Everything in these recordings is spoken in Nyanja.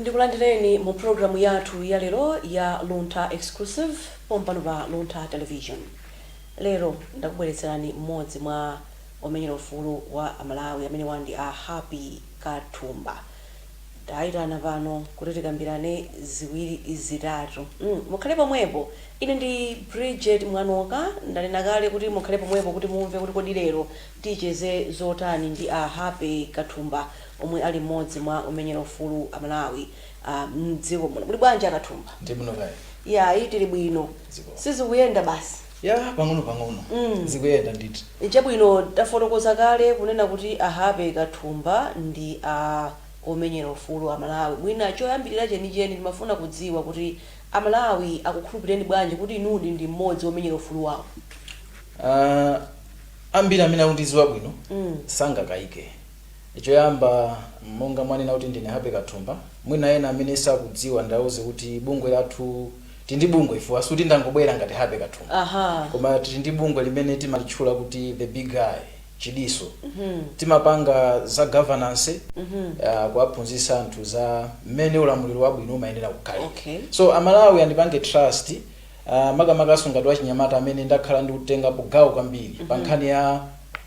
ndikulandireni mu programu yathu ya lero ya luntha exclusive pompano pa luntha television lero ndakubweretserani mmodzi mwa omenyera ufulu wa amalawi amene awa ndi a happy kathumba Taitana pano kuti tikambirane ziwiri zitatu mm mukhale pomwepo ine ndi Bridget Mwanoka ndanena kale kuti mukhale pomwepo kuti mumve kuti kodi lero ticheze zotani ndi a Happy Kathumba omwe ali mmodzi mwa omenyera ufulu wa a Malawi a mdziko muno muli bwanji a Kathumba? Ndili bwino kaya inu? Iyayi tili bwino Zikomo. sizikuyenda basi. Yah pang'ono pang'ono zikuyenda ndithu. Chabwino tafotokoza kale kunena kuti a Happy Kathumba ndi a omenyera ufulu a Malawi. Mwina choyambilira chenicheni ndimafuna kudziwa kuti a Malawi akukhulupilireni bwanji kuti inudi ndi mmodzi womenyera ufulu wawo? Aaa ambiri amene akundidziwa bwino sangakayike. Choyamba monga mwanena kuti ndine Happy Kathumba, mwina ena amene sakudziwa ndiauze kuti bungwe lathu tili ndi bungwe chifukwa sikuti ndangobwera ngati Happy Kathumba Aha. koma tili ndi bungwe limene timalitchula kuti the Big Eye Chidiso timapanga za governance uh, kuwaphunzitsa anthu za mmene ulamuliro wabwino umayenera kukhala Okay. so amalawi andipange trust Uh, makamakanso ngati wachinyamata amene ndakhala ndikutengapo gawo kwambiri mm -hmm. pa nkhani ya,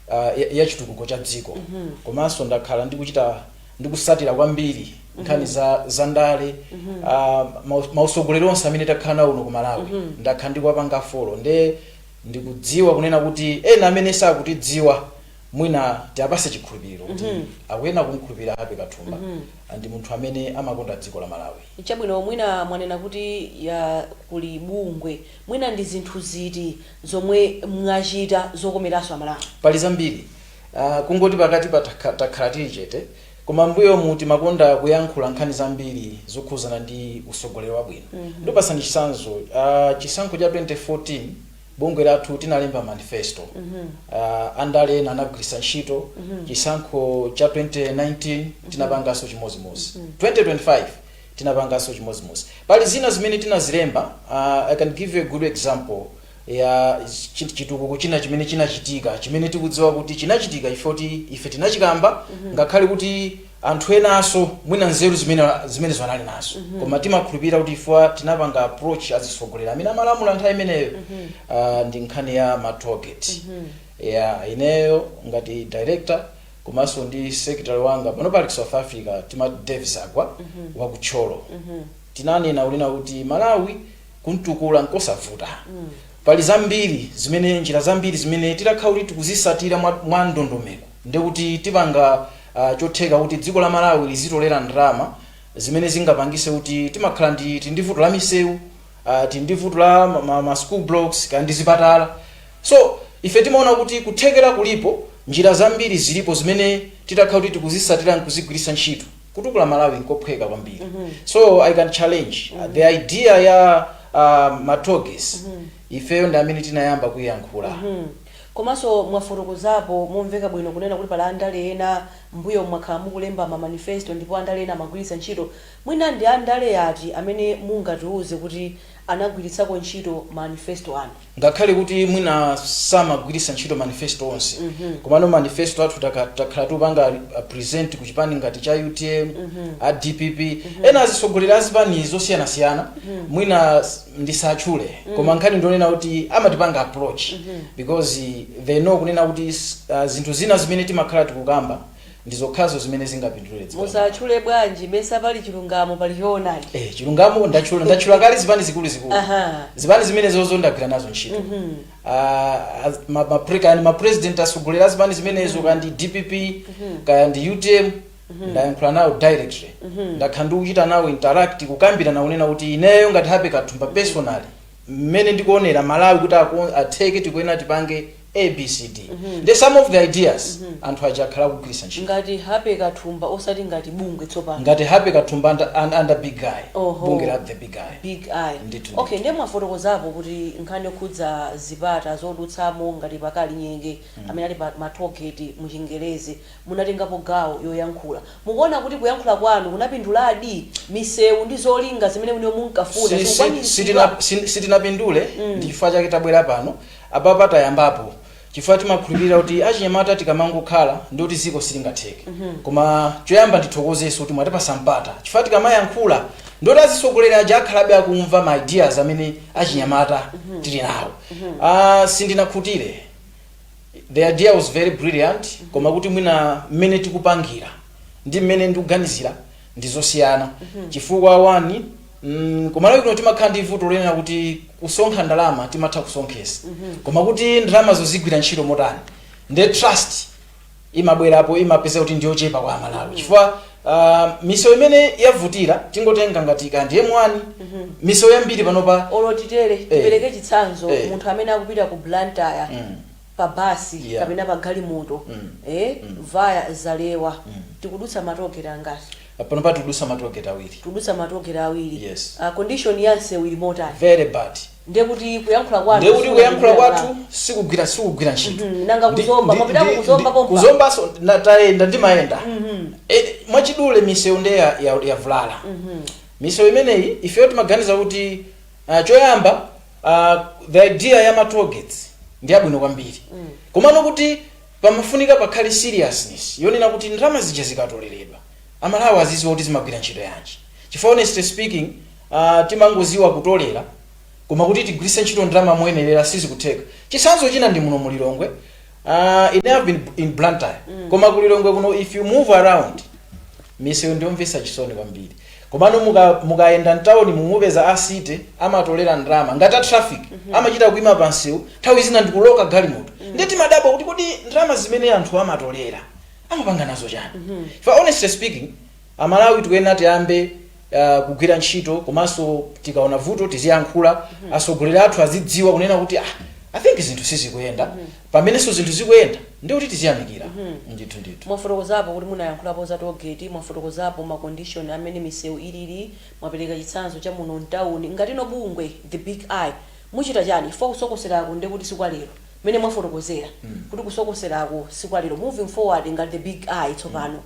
uh, ya, ya chitukuko cha dziko mm -hmm. komanso ndakhala ndikuchita ndikusatira kwambiri nkhani mm -hmm. za, za ndale mm -hmm. uh, mautsogoleri onse amene takhala nawo kuno ku malawi mm -hmm. ndakhala ndikuwapanga folo nde ndikudziwa kunena kuti ena amene sakutidziwa mwina tiapase chikhulupiriro kuti mm -hmm. akuyenera kumkhulupirira happy kathumba mm -hmm. ndi munthu amene amakonda dziko la malawi Chabwino, mwina mwanena kuti, ya, kuli bungwe. Mwina ndi zinthu ziti zomwe mwachita zokomeranso Amalawi? Pali zambiri. Uh, kungoti pakatipa takha, takhala tili chete, koma mbuyomu timakonda kuyankhula nkhani zambiri zokhuzana ndi usogoleri wabwino. Mm -hmm. Ndipasani chisanzo, uh, chisankho cha 2014, bungwe lathu tinalemba manifesto mm -hmm. uh, andale ena anagwiritsa ntchito mm -hmm. chisankho cha 2019 tinapanganso chimodzimodzi mm -hmm. 2025 tinapanganso chimodzimodzi pali zina zimene tinazilemba uh, i can give you a good example ya chi- chitukuko china chimene chinachitika chimene tikudziwa kuti chinachitika chifukwa choti ife tinachikamba mm -hmm. ngakhale kuti anthu enaso mwina nzeru zimene zimenezo anali nazo mm -hmm. koma timakhulupirira kuti chifukwa tinapanga approach azitsogoleri amene amalamula nthawi imeneyo mm -hmm. uh, ndi nkhani ya matogeti mm -hmm. yeah, ineyo ngati director komanso ndi secretary wanga pano pali ku south africa tima davis agwa mm -hmm. wa kutcholo mm -hmm. tinanena kunena kuti malawi kumtukula nkosavuta mm -hmm. Pali zambiri zimene, njira zambiri zimene titakhala kuti tikuzisatira mwa ndondomeko ndiye kuti tipanga chotheka kuti dziko la Malawi lizitolera ndalama zimene zingapangise kuti timakhala ndi tili ndi vuto la miseu tili ndi vuto la ma ma school blocks kaya ndi zipatala so ife timaona kuti kuthekera kulipo njira zambiri zilipo zimene titakhala kuti tikuzisatira nkuzigwiritsa ntchito. kutukula malawi nkophweka kwambiri mm -hmm. so i can challenge mm -hmm. the idea ya uh, ma tollgates mm -hmm. ifeyo ndi amene tinayamba kuyankhula mm -hmm. komanso mwafotokozapo momveka bwino kunena kuti pali andale ena mbuyo mwakhala mukulemba ma manifesto ndipo andale ena amagwiritsa ntchito mwina ndi andale ati amene mungatiuze kuti anagwiritsako ntchito ma manifesto anu ngakhale kuti mwina samagwiritsa ntchito manifesto onse komano manifesto athu taka- takhala tikupanga uh, present ku chipani ngati cha utm a dpp ena azitsogoleri a zipani zosiyanasiyana mwina s- ndisatchule koma nkhani ndionena kuti amatipanga approach because they know kunena kuti s- uh, zinthu zina zimene timakhala tikukamba Ndi zokhazo zimene zingapindulire dziko. musatchule bwanji mesa pali chilungamo pali choonadi Eh, chilungamo ndatchula ndatchula kale zipani zikulu zikulu Aha. zipani zimenezozo ndagwira nazo ntchito Ah, az- ma- ma- pre- kaya ndi ma president asogolera zipani zimenezo kaya ndi dpp kaya ndi utm ndayankhula nawo directly ndakhala ndikuchita nawo interact kukambirana kunena kuti ineyo ngati Happy Kathumba personally mmene ndikuonera malawi kuti ako- atheke tikuyenera tipange A B C D nde some of the ideas anthu aja akhala akugwiritsa ntchito ngati Happy Kathumba osati ngati bungwe tsopano ngati Happy Kathumba under, un- under big eye Oho. bungwe la the big eye big eye Ndithu, okay ndithu. ndiye mwafotokozapo kuti nkhani yokhudza zipata zodutsamo ngati pa Kalinyeke amene ali pa matogeti mu chingerezi munatengapo gawo yoyankhula mukuona kuti kuyankhula kwanu kunapinduladi misewu ndi zolinga zimene inu munkafuna Si- si- zikukwaniritsidwa sitina- si- sitinapindule ndi chifukwa chake tabwera pano Apapa tayambapo chifukwa timakhulupirira kuti achinyamata tikamangokhala ndiye kuti dziko silingatheke koma choyamba ndithokozenso kuti mwatipasa mpata chifukwa tikamayankhula ndiye kuti azitsogoleri aja akhalabe akumva ma ideas amene achinyamata tili nawo Ah, sindinakhutire the idea was very brilliant koma kuti mwina mmene tikupangira ndi mmene ndikuganizira ndizosiyana chifukwa one mm, kumalawi kuno timakhala ndi vuto lonena kuti kusonkha ndalama timatha kusonkhesa koma kuti ndalamazozo zigwira ntchito motani nde trust imabwerapo imapezeka kuti ndiyochepa kwa amalawi chifukwa uh, misewu imene yavutirabe tingotenga ngati kaya ndi m1 misewu yambiri panopa olo titere tipereke chitsanzo Eh. munthu amene akupita ku blantyre Mm. pa bus Yeah. kapena pa galimoto Mm. eh Mm. via zalewa Mm. tikudutsa ma toll gate angati panopa tikudutsa ma toll gate awiri tikudutsa ma toll gate awiri Yes. uh, condition ya msewu ili motani very bad ndiye kuti kuyankhula kwanu ndekuti sikuti kuyankhula kugwira kwathu mlandu. sikugwira sikugwira ntchito Mhm, nanga ku Zomba, mwapitako ku Zomba pompa? ku Zombanso ndayenda ndimayenda Eh, mwachidule misewu nde ya- ya- yavulala misewu imeneyi ifeyo timaganiza kuti ah, choyamba uh, the idea ya ma toll gates ndi yabwino kwambiri mm. komano kuti pamafunika pakhale seriousness yonena kuti ndalama zija zikatoleredwa aMalawi aziziwa kuti zimagwira ntchito yanji chifukwa honestly speaking uh, timangoziwa kutolera koma kuti tigwiritse ntchito ndalama moyenerera sizikutheka chisanzo china ndi muno mu Lilongwe uh, ine I've been in Blantyre mm. koma ku Lilongwe kuno if you move around misewu ndiyomvesa chisoni kwambiri Komano muka mukayenda mtauni mu mupeza a city amatolera ndalama ngati a traffic amachita kuima pa msewu nthawi zina ndikuloka galimoto ndiye timadabwa kuti kodi ndalama zimene anthu amatolera amapanga nazo chani chifukwa honestly speaking aMalawi tikuyenera tiyambe uh, kugwira ntchito komanso tikaona vuto tiziyankhula atsogoleri athu azidziwa kunena kuti ah, i think zinthu sizikuyenda pamenenso zinthu zikuyenda ndi kuti tiziyamikira ndithu ndithu. Mwafotokozapo kuti munayankhulapo za toll gate, mwafotokozapo ma condition amene miseu ilili, mwapereka chitsanzo cha muno mtauni. Ngati inu bungwe the Big Eye muchita chani chifukwa kusokoseraku ndiye kuti si kwa lero mmene mwafotokozera kuti kusokoseraku si kwa lero. Moving forward ngati the Big Eye tsopano,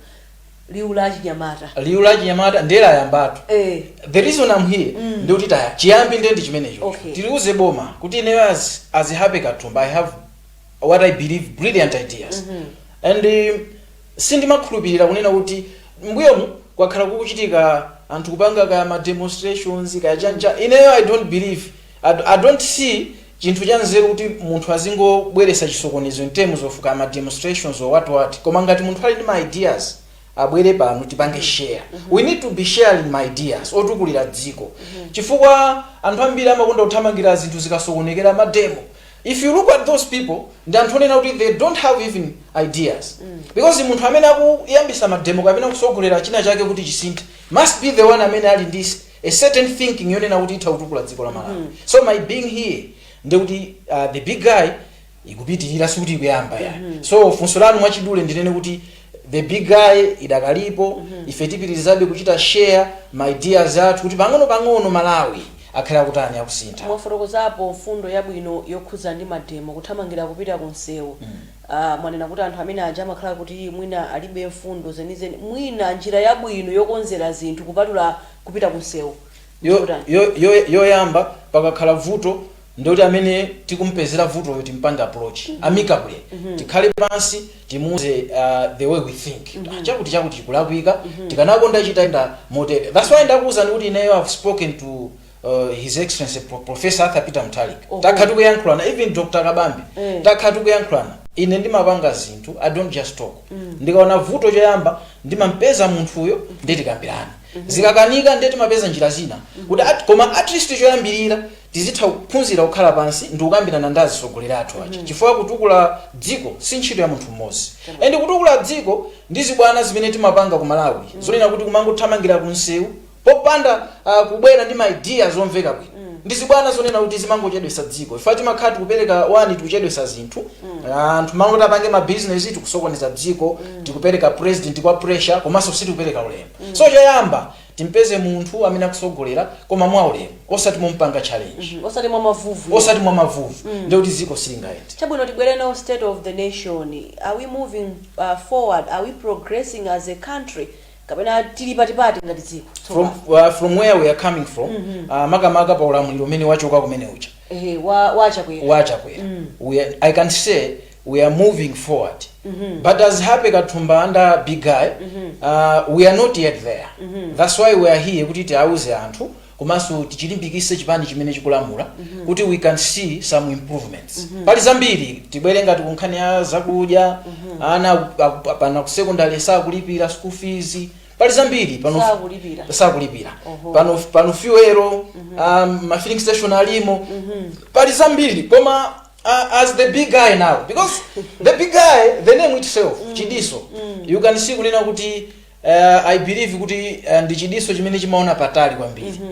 liwu la achinyamata liwu la chinyamata ndiye layambatu eh the reason i'm here Mm. ndi kuti eya chiyambi ndiye ndi chimenecho Okay. tiliuze boma kuti ineyo as, as Happy Katumba i have what i believe brilliant ideas Mhm. and um, sindimakhulupirira kunena kuti mbuyomu kwakhala kukuchitika anthu kupanga ka ma demonstrations kaya chani chani ineyo i don't believe I I don't see chinthu cha nzeru kuti munthu azingobweretsa chisokonezo in terms of kaya ma demonstrations or what what koma ngati munthu ali ndi ma ideas abwere pano tipange share we need to be sharing ma ideas otukulira dziko chifukwa anthu ambiri amakonda kuthamangira zinthu zikasokonekera mademo if you look at those people ndi anthu onena kuti they don't have even ideas because munthu amene akuyambisa mademo kapena kusogolera china chake kuti chisinthe must be the one amene ali ndi a certain thinking yonena kuti itha kutukula dziko la Malawi so my being here ndi kuti uh, the Big Eye ikupitirira sikuti ikuyamba ayi so funso lanu mwachidule ndinene kuti the Big Eye idakalipo ife tipitirizabe kuchita share ma ideas athu kuti pang'ono pang'ono Malawi akhale akutani akusintha mwafotokozapo mfundo yabwino yokhudza ndi mademo kuthamangira kupita ku msewu Aaa mwanena kuti anthu amene aja amakhala kuti mwina alibe mfundo zenizeni mwina njira yabwino yokonzera zinthu kupatula kupita kunsewu ndi Yo, yotani? yo, yo, yoyamba pakakhala vuto ndi kuti amene tikumpezera vutoyo timpange approach amicably tikhale pansi timuuze aah the way we think aah chakuti chakuti chikulakwika tikanakonda chitayenda motere that's why ndakuuzani kuti ineyo i've spoken to Uh, his excellency Pro- professor arthur peter Mutharika Oho. takhala tikuyankhulana even dr Kabambe Eh. takhala tikuyankhulana ine ndimapanga zinthu i don't just talk ndikaona vuto choyamba ndimampeza munthuyo ndi kukambirana zikakanika ndiye timapeza njira zina kuti at- koma at least choyambirira tizitha kuphunzira kukhala pansi ndi kukambirana ndi atsogoleri athu aja chifukwa kutukula dziko si ntchito ya munthu mmodzi and kutukula dziko ndi zibwana zimene timapanga ku malawi zonena kuti kumangothamangira kumsewu popanda uh, kubwera ndi ma ideas omveka bwino mm. ndi zibwana zonena kuti zimangochedwesa dziko chifukwa timakhala tikupereka one tikuchedwesa zinthu mm. anthu mmalo moti apange ma business tikusokoneza dziko mm. tikupereka president ku pressure komanso sitikupereka ulemu mm. so choyamba timpeze munthu amene akutsogolera koma mwa ulemu osati mompanga challenge mm. osati mwa mavuvu osati mwa mavuvu mm. ndiye kuti dziko silingayende chabwino tibwere now state of the nation are we moving uh, forward are we progressing as a country kapena tili patipati ngati dziko from, tsopano uh, from where we are coming from uh, makamaka pa ulamuliro umene wachoka kumene uja ehe wa a Chakwera wa a Chakwera we are, i can say we are moving forward but as happy kathumba under big guy uh, we are not yet there that's why we are here kuti tiauze anthu komanso tichilimbikitse chipani chimene chikulamula kuti we can see some improvements pali zambiri tibwere ngati kunkhani ya zakudya ana aku- aku- pano ku secondary sakulipira school fees pali zambiri pano Sakulipira. sakulipira Oho. pano pano fuel um, ma filling station alimo pali zambiri koma uh, as the big guy now because the big guy the name itself chidiso you can see kunena kuti uh, i believe kuti uh, ndi chidiso chimene chimaona patali kwambiri mm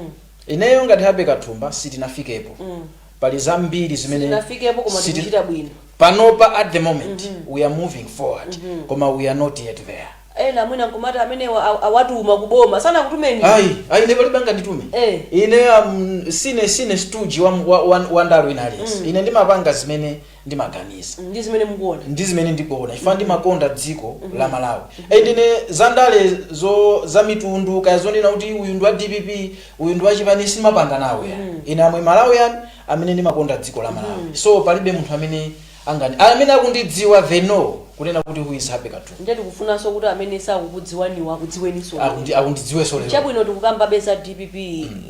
-hmm. ineyo ngati happy kathumba sitinafikepo mm. pali zambiri zimene Sitinafikepo koma siti- tikuchita bwino. panopa at the moment mm -hmm. we are moving forward mm -hmm. koma we are not yet there ena mwina nkumati amenewa aw- awatuma kuboma sanakutumeni ayi ayi ine palibe anganditume Eh. ine um, sine sine stooge wa, wa, wa, wa ndale wina aliyense ine ndimapanga zimene ndimaganiza. Ndi zimene mukuona. Ndi zimene ndikuona chifukwa ndimakonda dziko la Malawi. And ine zandale zo za mitundu kaya zonena kuti uyu ndi wa dpp uyu ndi wa chipani sindimapanga nawo ya. Ine am a Malawian amene ndimakonda dziko la Malawi. So palibe munthu amene angani amene akundidziwa they know kunena kuti who is Happy Kathumba. Ndiye tikufunanso kuti amene sakukudziwaniwo akudziweninso. Akundi akundidziwenso lero. Chabwino tikukambabe za dpp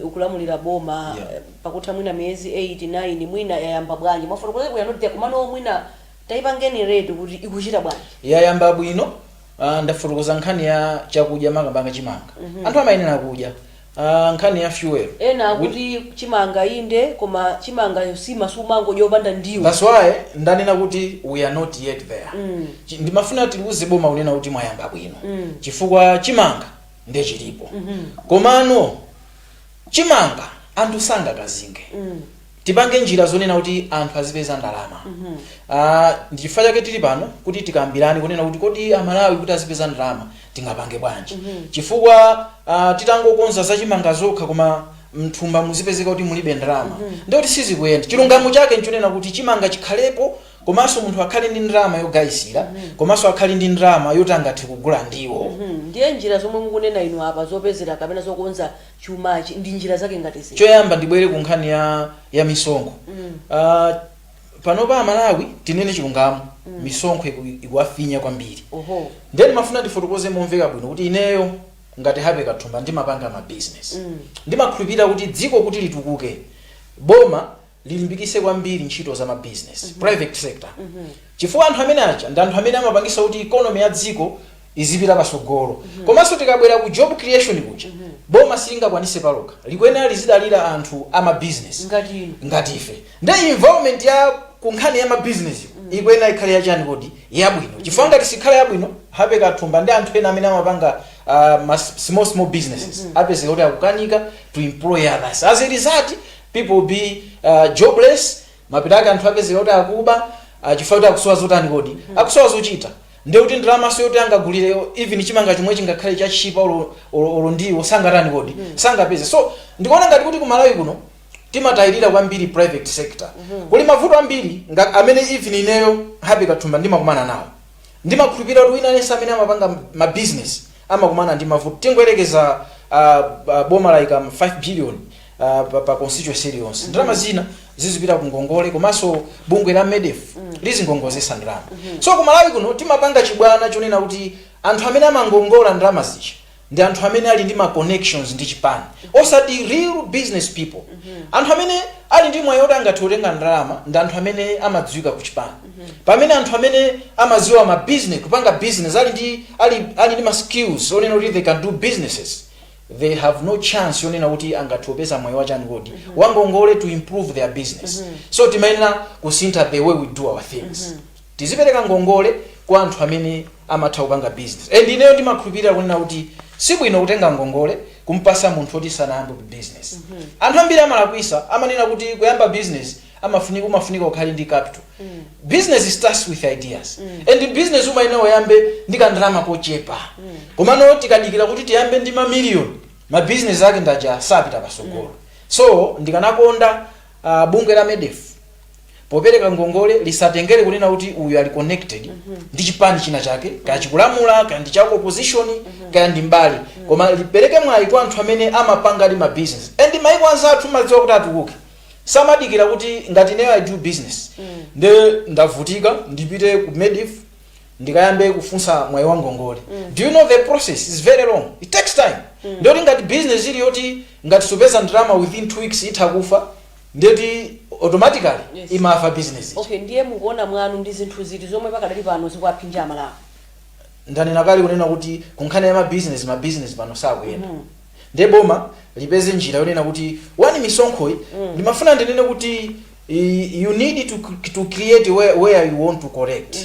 ikulamulira boma. Yeah. pakutha mwina miyezi 8, 9 mwina yayamba bwanji mwafotokozako bwino we are not there komano mwina taipangeni rate kuti ikuchita bwanji. Yayamba bwino ah, ndafotokoza nkhani ya chakudya makamaka chimanga anthu amayenera kudya Ah, nkhani ya fuel ena Wi- akuti chimanga inde koma chimanga nsima sumangodya yopanda ndiwo That's why ndanena kuti we are not yet there Mm. Chi- ndimafuna tiliuze boma kunena kuti mwayamba bwino Mm. chifukwa chimanga nde chilipo Mhm. komano chimanga anthu sangakazinge tipange njira zonena kuti anthu azipeza ndalama Ah, ndi chifukwa chake tili pano kuti tikambirane kunena kuti kodi amalawi kuti azipeza ndalama tingapange bwanji chifukwa ah, titangokonza zachimanga zokha koma mthumba muzipezeka kuti mulibe ndalama ndikuti sizikuyenda chilungamo chake nchonena kuti chimanga chikhalepo komanso munthu akhale ndi ndalama yogayisira komanso akhale ndi ndalama yoti angathe kugula ndiwo. Hmm, ndiye njira zomwe mukunena inu apa zopezera kapena zokonza chumachi ndi njira zake ngati ziti? Choyamba ndibwere ku nkhani ya, ya misonkho Mm. Ah, panopa amalawi tinene chilungamo misonkho iku- ikuwafinya kwambiri Oho. ndiye ndimafuna ndifotokoze momveka bwino kuti ineyo ngati Happy Kathumba ndimapanga ma business Mm. ndimakhulupirira kuti dziko kuti litukuke boma lilimbikitse kwambiri ntchito za mabizinesi, private sector, chifukwa anthu amene aja ndi anthu amene amapangitsa kuti economy ya dziko izipita patsogolo. Komanso tikabwera ku job creation kuja, boma silingakwanitse palokha, likuyenera lizidalira anthu a mabizinesi Ngati inu. ngati ife. Nde environment ya ku nkhani ya mabizinesi ikuyenera ikhale yachani kodi yabwino, chifukwa ngati sikhala yabwino, Happy Kathumba ndi anthu ena amene amapanga uh, ma small small businesses apezeka kuti akukanika to employ others as a result People will be jobless, mapeto ake anthu apezeka kuti akuba chifukwa choti akusowa zotani kodi? Akusowa zochita. Ndiye kuti ndalamaso yoti angagulire even chimanga chomwe chingakhale chotchipa olo ndiwo sangatani kodi? Sangapeze. So ndikuona ngati kuti ku Malawi kuno timatayirira kwambiri private sector. Kuli mavuto ambiri amene even ineyo Happy Kathumba ndimakumana nawo. Ndimakhulupirira kuti wina aliyense amene amapanga ma business amakumana ndi mavuto. Tingoyerekeza boma layika 5 billion uh, pa, pa constituency iliyonse ndalama zina zizipita ku ngongole komanso bungwe la MEDF lizingongozesa ndalama so ku malawi kuno timapanga chibwana chonena kuti anthu amene amangongola ndalama zija ndi anthu amene ali ndi ma connections ndi chipani osati real business people anthu amene ali ndi mwayi oti angathe kutenga ndalama ndi anthu amene amadziwika ku chipani pamene anthu amene amadziwa ma business kupanga business ali ndi ali, ali ndi ma skills onena kuti they can do businesses they have no chance yonena kuti angathe kupeza mwayi wachani kodi wangongole to improve their business so timayenera kusintha the way we do our things tizipereka ngongole kwa anthu amene amatha kupanga business and ineyo ndimakhulupirira kunena kuti si bwino kutenga ngongole kumpasa munthu oti sanayambe business anthu ambiri amalakwisa amanena kuti kuyamba business amafunika umafunika ukhale ndi capital business starts with ideas and business umayenera uyambe ndi kandalama kochepa komano tikadikira kuti tiyambe ndi mamiliyoni mabizinesi ake ndaja sapita pasogolo so ndikanakonda uh, bungwe la medf popereka ngongole lisatengere kunena kuti uyu ali connected ndi chipani china chake kaya chikulamula kaya ndi chako opposition kaya ndi mbali koma lipereke mwayi kwa anthu amene amapanga ndi mabizinesi and maiko anzathu amadziwa kuti atukuke samadikira kuti ngati ineyo i do business nde ndavutika ndipite ku medf ndikayambe kufunsa mwayi wa ngongole do you know the process is very long it takes time ndiyoti ngati business ili yoti ngati supeza ndalama within two weeks itha kufa ndiyoti automatically Yes. imafa business okay ndiye mukuona kwanu ndi zinthu ziti zomwe pakadali pano zikuwaphinja amalawi ndanena kale kunena kuti kunkhani ya mabizinesi mabizinesi pano sakuyenda ndiye boma lipeze njira yonena kuti one misonkhoyi ndimafuna ndinene kuti i- you need to, c- to create where, where you want to collect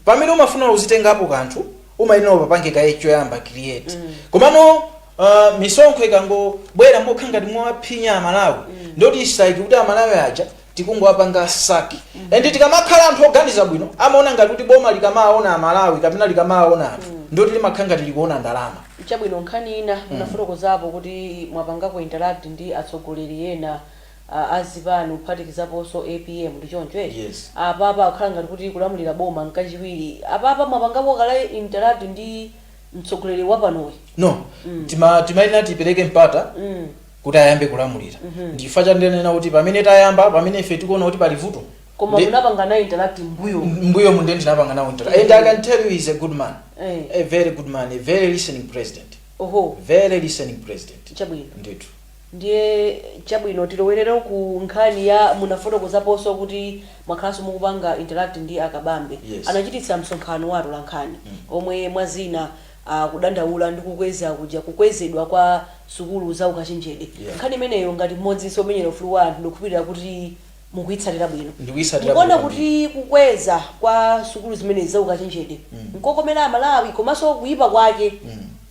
pamene umafuna uzitengapo kanthu umayenera upapange kaye choyamba create komano uh, misonkho ikangobwera mokha ngati mwawaphinya amalawi ndoti isayiki kuti amalawi aja tikungowapanga suck and tikamakhala anthu oganiza bwino amaona ngati kuti boma likamaona amalawi kapena likamaona anthu ndoti limakhala ngati likuona ndalama chabwino nkhani ina munafotokozapo kuti mwapangako interact ndi atsogoleri ena ah, a zipani kuphatikizaponso apm ndi choncho eti? Yes. apapa akukhala ngati akulamulira boma nkachiwiri apapa mwapangako kale interact ndi mtsogoleri wapanoyi no tima timayenera tipereke mpata mm. kuti ayambe kulamulira ndi chifukwa cha ndinena kuti pamene tayamba pamene ife tikuona kuti pali vuto koma ndi- munapanga naye interact mbuyo mbuyomu nde tinapanga nawo interact and i can tell you he is a good man Eh. a very good man a very listening president oho very listening president chabwino ndithu ndiye chabwino tilowerere ku nkhani ya munafotokozaponso kuti mwakhalanso mukupanga interact ndi akabambe Yes. anachititsa msonkhano wa atolankhani omwe mwazina akudandaula ndi kukweza kuja kukwezedwa kwa sukulu za ukachenjede Yeah. nkhani imeneyo ngati mmodzinso omenyera ufulu wa anthu ndikukhulupirira kuti mukuyitsatira bwino Ndikuyitsatira mukuona kuti kukweza kwa sukulu zimenezi za ukachenjede nkokomera amalawi komanso kuyipa kwake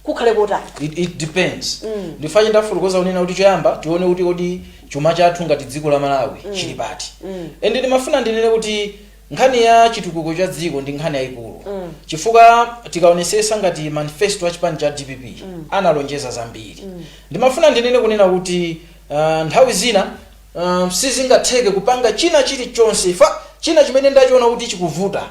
kukhale kotani it, it depends Mm. ndifache ndafotokoza kunena kuti choyamba tione kuti kodi chuma chathu ngati dziko la malawi chili pati Mm. ende ndimafuna ndinene kuti Nkhani ya chitukuko cha dziko ndi nkhani yayikulu chifukwa tikaonesesa ngati manifesto a chipani cha dpp analonjeza zambiri. Ndimafuna ndinene kunena kuti uh, nthawi zina uh, sizingatheke kupanga china chilichonse koma china chimene ndachiona kuti chikuvuta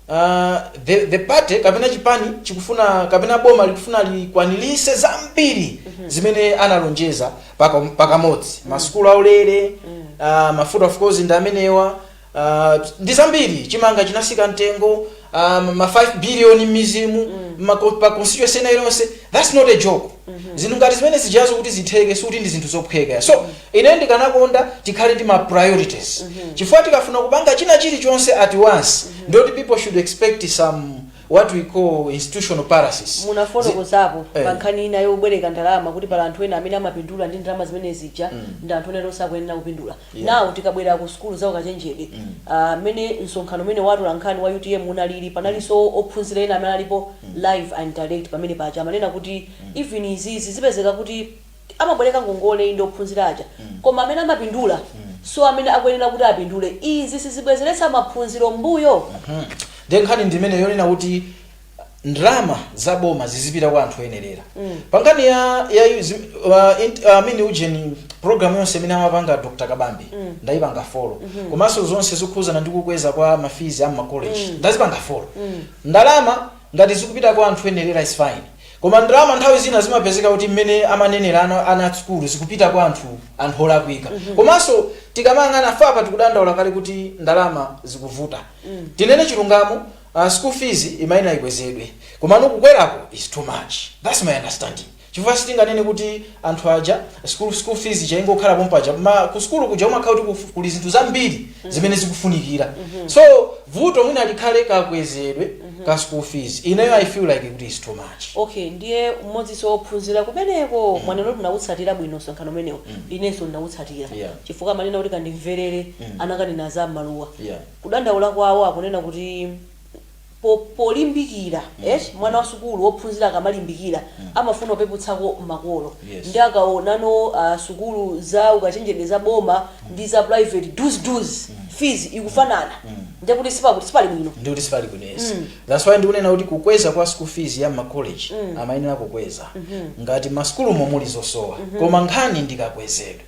uh, the, the party kapena chipani chikufuna kapena boma likufuna likwanilise zambiri zimene analonjeza paka- pakamodzi masukulu aulere uh, mafuta of course ndi amenewa Aaah ndi zambiri chimanga chinasika mtengo aaah ma 5 billion mmizimu m'ma ko- pa constituency ina iliyonse that's not a joke zinthu ngati zimene zijazo kuti zitheke sikuti ndi zinthu zophweka so ine ndikanakonda tikhale ndi ma priorities chifukwa tikafuna kupanga china chilichonse at once ndoti people should expect some what we call institutional paralysis Zi- munafotokozapo Eh. pa nkhani ina yobwereka ndalama kuti pala anthu ena amene amapindula ndi ndalama zimene zija ndi anthu ena osakuyenera kupindula Yeah. now tikabwera ku sukulu za ukachenjede ah, mmene msonkhano umene wa atolankhani wa utm unalili panalinso ophunzira ena amene alipo live and direct pamene paja amanena kuti even izizi zipezeka kuti amabwereka ngongole ndi ophunzira aja koma amene amapindula so amene akuyenera kuti apindule izi sizibwezeretsa maphunziro mbuyo nde nkhani ndimene yonena kuti ndalama za boma zizipita kwa anthu oyenerera pangani ya, ya zi- uh, int- uh, amene ujeni program yonse imene amapanga dr kabambe ndayipanga folo komanso zonse zokhudzana ndi kukweza kwa mafizi a mmakoleji ndazipanga folo ndalama ngati zikupita kwa anthu oyenerera is fine koma ndalama nthawi zina zimapezeka kuti mmene amanenera ana, ana a sukulu zikupita kwa anthu anthu olakwika komanso tikamayang'ana fapa tikudandaula kale kuti ndalama zikuvuta tinene chilungamo a school fees imayenera ikwezedwe komano kukweraku is too much thats my understanding chifukwa sitinganene kuti anthu aja school, school fees ija izingokhala pompaja ma ku sukulu kuja umakhala kuti kufu- kuli zinthu zambiri zimene zikufunikira so vuto mwina likhale kakwezedwe ka school fees ineyo i feel like kuti is too much okay ndiye m'modzinso wophunzira kumeneko mwanena kuti munawutsatira bwino msonkhano umenewo inenso ndinawutsatira Yeah. chifukwa amanena kuti kandimverere anakanena za maluwa Yeah. kudandaula kwawo akunena kuti po polimbikira eti mwana wa sukulu wophunzira akamalimbikira amafuna apeputseko makolo Yes. ndiye akaonano sukulu za ukachenjede za boma ndi za private zija school fees ikufanana ndiye kuti sipakuti sipali bwino ndi kuti sipali bwino yes that's why ndikunena kuti kukweza kwa school fees ya makoleji amayenera kukweza ngati masukulumo muli zosowa koma nkhani ndikakwezedwe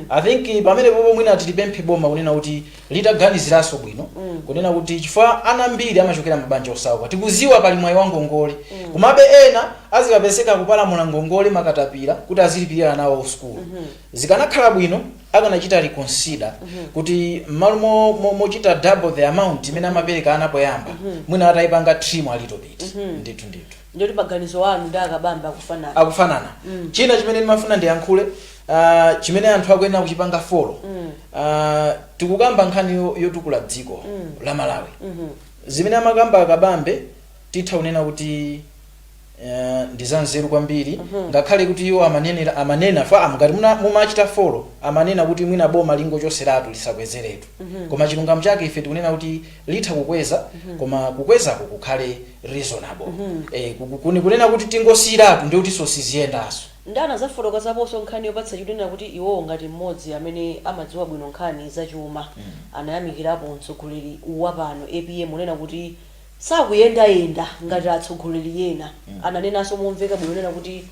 i think pamene popo mwina tilipemphe boma kunena kuti litaganiziranso bwino kunena kuti chifukwa ana ambiri amachokera mabanja osauka tikuziwa pali mwayi wa ngongole komabe ena azikapezeka akupalamula ngongole m'makatapira kuti azilipirira ana awo sukulu zikanakhala bwino akanachita reconsider kuti mmalo mo- mo- mochita double the amount imene amapereka ana poyamba mwina atayipanga trim a little bit ndithu ndithu ndiye kuti maganizo anu ndi akabambe akufanana akufanana Mm. china chimene ndimafuna ndiyankhule ah, chimene anthu akuyenera kuchipanga folo Mm. Ah, tikukamba nkhani yo- yotukula dziko Mm. la malawi Mhm. zimene amakamba akabambe titha kunena kuti eh, ndi zanzeru kwambiri Mhm. ngakhale kuti iwo amanenera amanena fa amu ngati muna- mumachita folo amanena kuti mwina boma lingochoseratu lisakwezeretu Mhm. koma chilungamo chake ife tikunena kuti litha kukweza koma kukwezako kukhale reasonable eh, ku- ku- kuni- kunena kuti tingosiyiratu ndiye kutinso siziyendanso ndiye anadzafotokozaponso nkhani yopatsa chidwi kunena kuti iwowo ngati mmodzi amene amadziwa bwino nkhani zachuma anayamikirapo mtsogoleri wapano apm kunena kuti sakuyendayenda ngati atsogoleri ena ananenanso momveka bwino kunena kuti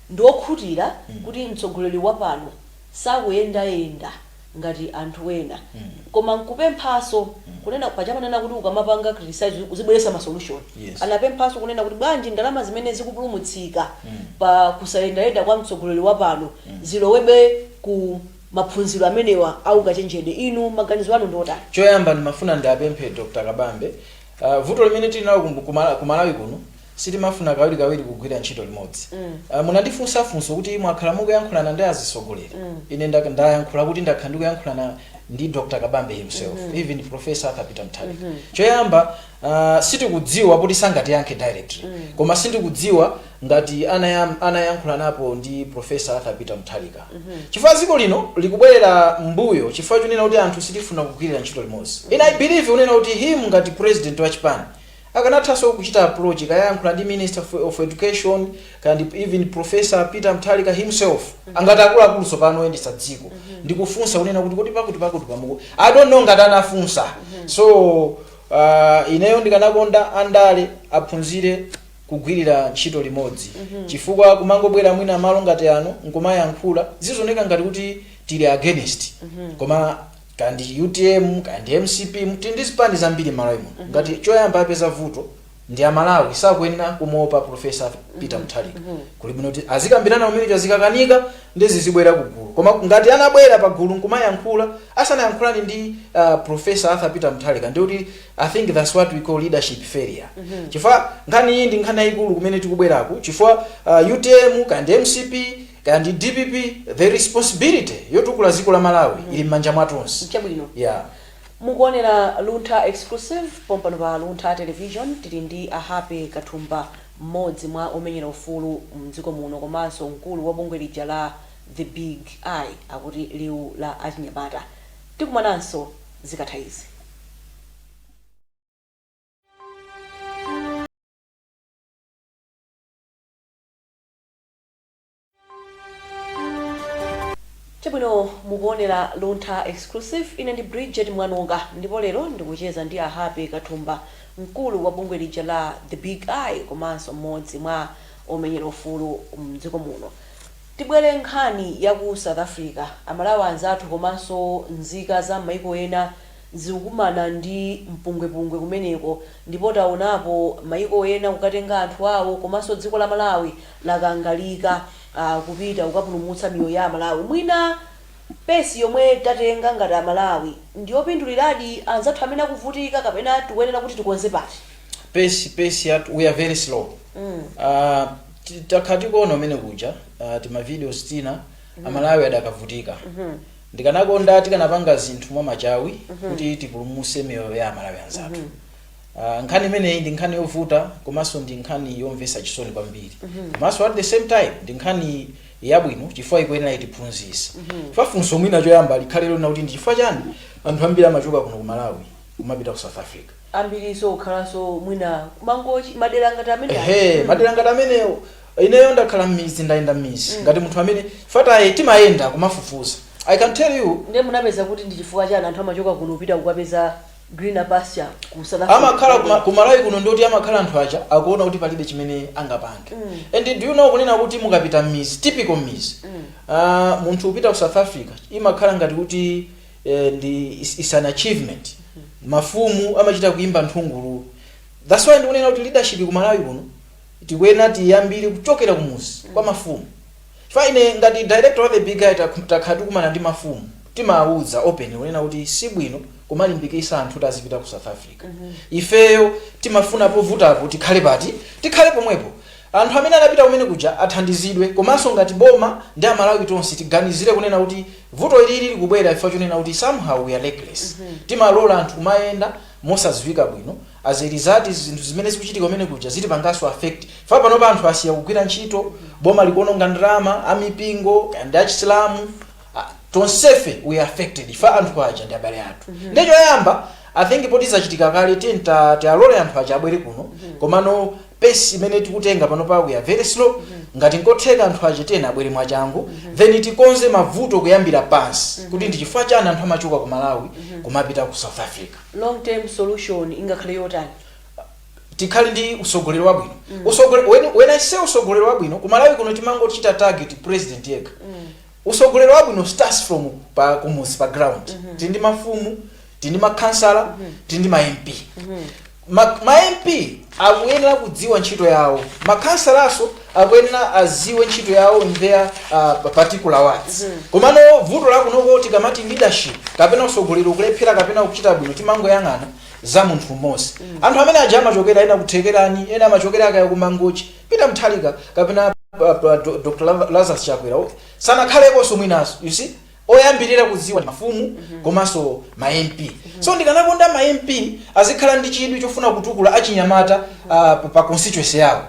ndiokhutira kuti mtsogoleri wapano sakuyendayenda ngati anthu ena koma nkupemphaso kunena paja amanena kuti ukamapanga criticize uzibweresa ma solution Yes. anapemphaso kunena kuti bwanji ndalama zimene zikupulumutsika pa kusayendayenda kwa mtsogoleri wapano zilowebe ku maphunziro amenewa aukachenjede inu maganizo anu ndiotani choyamba ndimafuna ndiapemphe dr kabambe uh, vuto limene tili nalo ku- ku Mala- ku malawi kuno Sitimafuna kawirikawiri kugwira ntchito limodzi. Ah, Munandifunsa funso kuti mwakhala mukuyankhulana ndi azitsogoleri. Ine nda- ndayankhula kuti ndakhala ndikuyankhulana ndi Dr. Kabambe himself, even Professor Arthur Peter Mutharika. Choyamba, ah, tikudziwa kuti sangatiyankhe directly. Koma sindikudziwa ngati anayam- anayankhulanapo ndi Professor Arthur Peter Mutharika. Chifukwa dziko lino likubwerera mbuyo chifukwa chonena kuti anthu sitifuna kugwirira ntchito limodzi. And I believe kunena kuti him ngati president wa chipani Akanathanso kuchita approach kaya ayankhula ndi minister of of education kaya ndi even professor Peter Mutharika himself ngati akuluakulu tsopano oyendetsa dziko ndikufunsa kunena kuti kodi pakuti pakuti pamuku I don't know ngati anafunsa so uh, ineyo ndikanakonda andale aphunzire kugwirira ntchito limodzi chifukwa kumangobwera mwina malo ngati ano nkumayankhula zizoneka ngati kuti tili against koma kaya ndi utm kaya ndi mcp tili ndi zipani zambiri mmalawi muno ngati choyamba apeza vuto ndi amalawi sakuyenera kumuopa profesa peter mutharika kuli bwino kuti azikambirana pamene zazikakanika ndiye azibwera ku gulu koma ngati anabwera pa gulu nkumayankhula asanayankhulane ndi uh, profesa arthur peter mutharika ndi kuti i think that's what we call leadership failure chifukwa nkhani iyi ndi nkhani yayikulu kumene tikubweraku chifukwa uh, utm kaya ndi mcp Kaya ndi dpp the responsibility yotukula ziko la Malawi ili mmanja mwatonse. Chabwino. Yeah. Mukuonera Luntha Exclusive pompano pa Luntha Television. Tili ndi a Happy Kathumba, mmodzi mwa omenyera ufulu mdziko muno komanso mkulu wa bungwe lija la The Big Eye, akuti Liwu la Achinyamata. Tikumananso zikatha izi. chabwino mukuonera luntha exclusive ine ndi bridget mwanonga ndipo lero ndikucheza ndi a happy kathumba mkulu wa bungwe lija la the big eye komanso mmodzi mwa omenyera ufulu mdziko muno tibwere nkhani ya ku south africa amalawi anzathu komanso nzika za m'maiko ena zikukumana ndi mpungwepungwe kumeneko ndipo taonapo maiko ena kukatenga anthu awo komanso dziko la malawi lakangalika kupita kukapulumutsa miyoyo ya amalawi mwina pace yomwe tatenga ngati amalawi ndiyopinduliradi anzathu amene akuvutika kapena tikuyenera kuti tikonze pati? pace pace yathu we are very slow Ah, ti- takhala tikuona umene kuja ah, timavideos tina amalawi akadavutika ndikanakonda tikanapanga zinthu mwa machawi kuti tipulumuse miyoyo ya amalawi anzathu Uh, nkhani imeneyi ndi nkhani yovuta komanso ndi nkhani yomvetsa chisoni kwambiri komanso at the same time ndi nkhani yabwino chifukwa ikuyenera itiphunzitse chifukwa funso mwina choyamba likhale lona kuti ndi chifukwa chani anthu ambiri amachoka kuno ku malawi kumapita ku south africa ambiriso kukhalanso mwina ku mangochi madera ngati amene ehe madera ngati amenewo ineyo ndakhala mmizi ndayenda mmizi ngati munthu amene fataye timayenda kumafufuza i can tell you ndiye munapeza kuti ndi chifukwa chani anthu amachoka kuno kupita kukapeza greener pasture ku south africa amakhala kuma- ku malawi kuno ndoti amakhala anthu aja akuona kuti palibe chimene angapange and do you know kunena kuti mukapita mmizi typical mmizi Ah, munthu kupita ku south africa imakhala ngati kuti eh, ndi is, is an achievement mafumu amachita kuimba nthungululu that's why ndikunena kuti leadership ku malawi kuno tikuyenera tiyambire kuchokera kumuzi kwa mafumu Chifukwa ine ngati director wa the big eye tak takhala tikumana ndi mafumu timawauza openly kunena kuti sibwino kumalimbikisa anthu kuti azipita ku south africa ifeyo timafuna povutapo tikhale pati tikhale pomwepo anthu amene anapita kumene kuja athandizidwe komanso ngati boma ndi amalawi tonse tiganizire kunena kuti vuto ilili likubwera chifukwa chonena kuti somehow we are reckless timalola anthu kumayenda mosadziwika bwino As a result zinthu zimene zikuchitika kumene kuja zitipanganso affect chifukwa panopa anthu asiya kugwira ntchito, boma likuononga ndalama, a mipingo kaya ndi a chisilamu a tonsefe we are affected chifukwa anthu aja ndi abale athu nde choyamba I think poti zachitika kale tiyeni ta- tialole anthu aja abwere kuno komano pace imene tikutenga panopa we are very slow ngati nkotheka anthu aja tiyeni abwere mwachangu then tikonze mavuto kuyambira pansi kuti ndi chifukwa chani anthu amachoka ku Malawi kumapita ku South Africa long term solution ingakhale yotani? tikhale ndi usogoleri wabwino Usogole- when, when i say usogoleri wabwino ku Malawi kuno timangochita target president yekha usogoleri wabwino starts from pa kumudzi pa ground tili ndi mafumu tili ndi makhansala tili ndi ma mp ma, ma mp akuyenera kudziwa ntchito yawo makhansalaso akuyenera adziwe ntchito yawo in their uh, particular wards komano vuto la kunoko tikamati leadership kapena usogoleri kulephera kapena kuchita bwino timangoyang'ana za munthu mmodzi anthu amene aja amachokera ena ku Thekerani ena amachokera kaya ku Mangochi Peter Mutharika kapena uh, uh, Do- Dr Lazarus Chakwera sanakhaleko mwinaso you see oyambirira kudziwa ndi mafumu komanso ma MP. So ndikanakonda ma MP azikhala ndi chidwi chofuna kutukula achinyamata ah, pa- pa constituency yawo.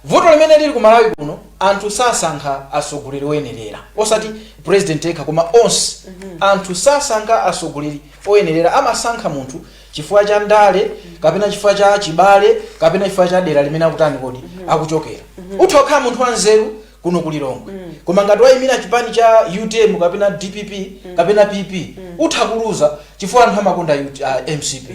Vuto limene lili ku Malawi kuno anthu sasankha atsogoleri oyenerera osati president yekha koma onse anthu sasankha atsogoleri oyenerera amasankha munthu chifukwa cha ndale kapena chifukwa cha chibale kapena chifukwa cha dera limene akutani kodi akuchokera utha kukhala munthu wanzeru kuno ku Lilongwe koma ngati wayimira chipani cha utm kapena dpp kapena pp utha kuluza chifukwa anthu amakonda UT ah, mcp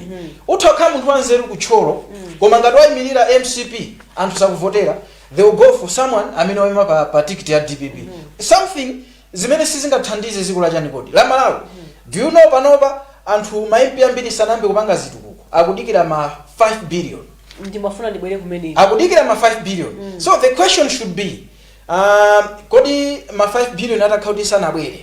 utha kukhala munthu wanzeru ku Thyolo koma ngati wayimirira mcp anthu sakuvotera they will go for someone amene wayima pa, pa tikiti ya dpp something zimene sizingathandize dziko la chani kodi la Malawi do you know panopa anthu ma mp ambiri sanayambe kupanga zitukuko akudikira ma 5 billion ndimafuna ndibwere kumene akudikira ma 5 billion so the question should be um, kodi ma 5 billion atakhala kuti sanabwere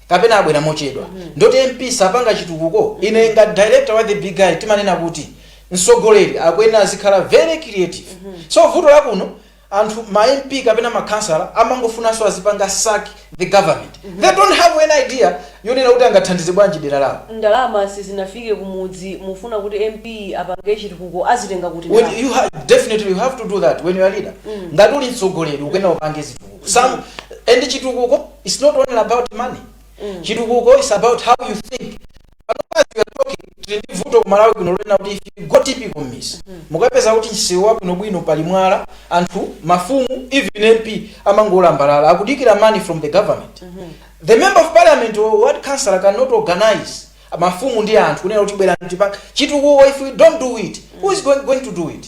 kapena abwera mochedwa ndoti mp sapanga chitukuko ine ngati director wa the big guy timanena kuti msogoleri akuyenera azikhala very creative so vuto la kuno anthu ma MP kapena ma khansala amangofunanso azipanga suck the government they don't have any idea yonena kuti angathandize bwanji dera lawo. Ndalama sizinafike kumudzi mufuna kuti MP apange chitukuko azitenga kuti When ndalama? you ha definitely you have to do that when you are leader ngati uli mtsogoleri ukuyenera upange zitukuko some and chitukuko it's not only about money chitukuko is about how you think as we are talking tili ndi vuto ku malawi kuno lonena kuti if you go typical mmizi mukapeza kuti msewu wabwinobwino pali mwala anthu mafumu even mp amangolambalala akudikira money from the government the member of parliament or ward councillor cannot organize mafumu ndi anthu kunena kuti bwerani tipange chitukuko if we don't do it who is going, going to do it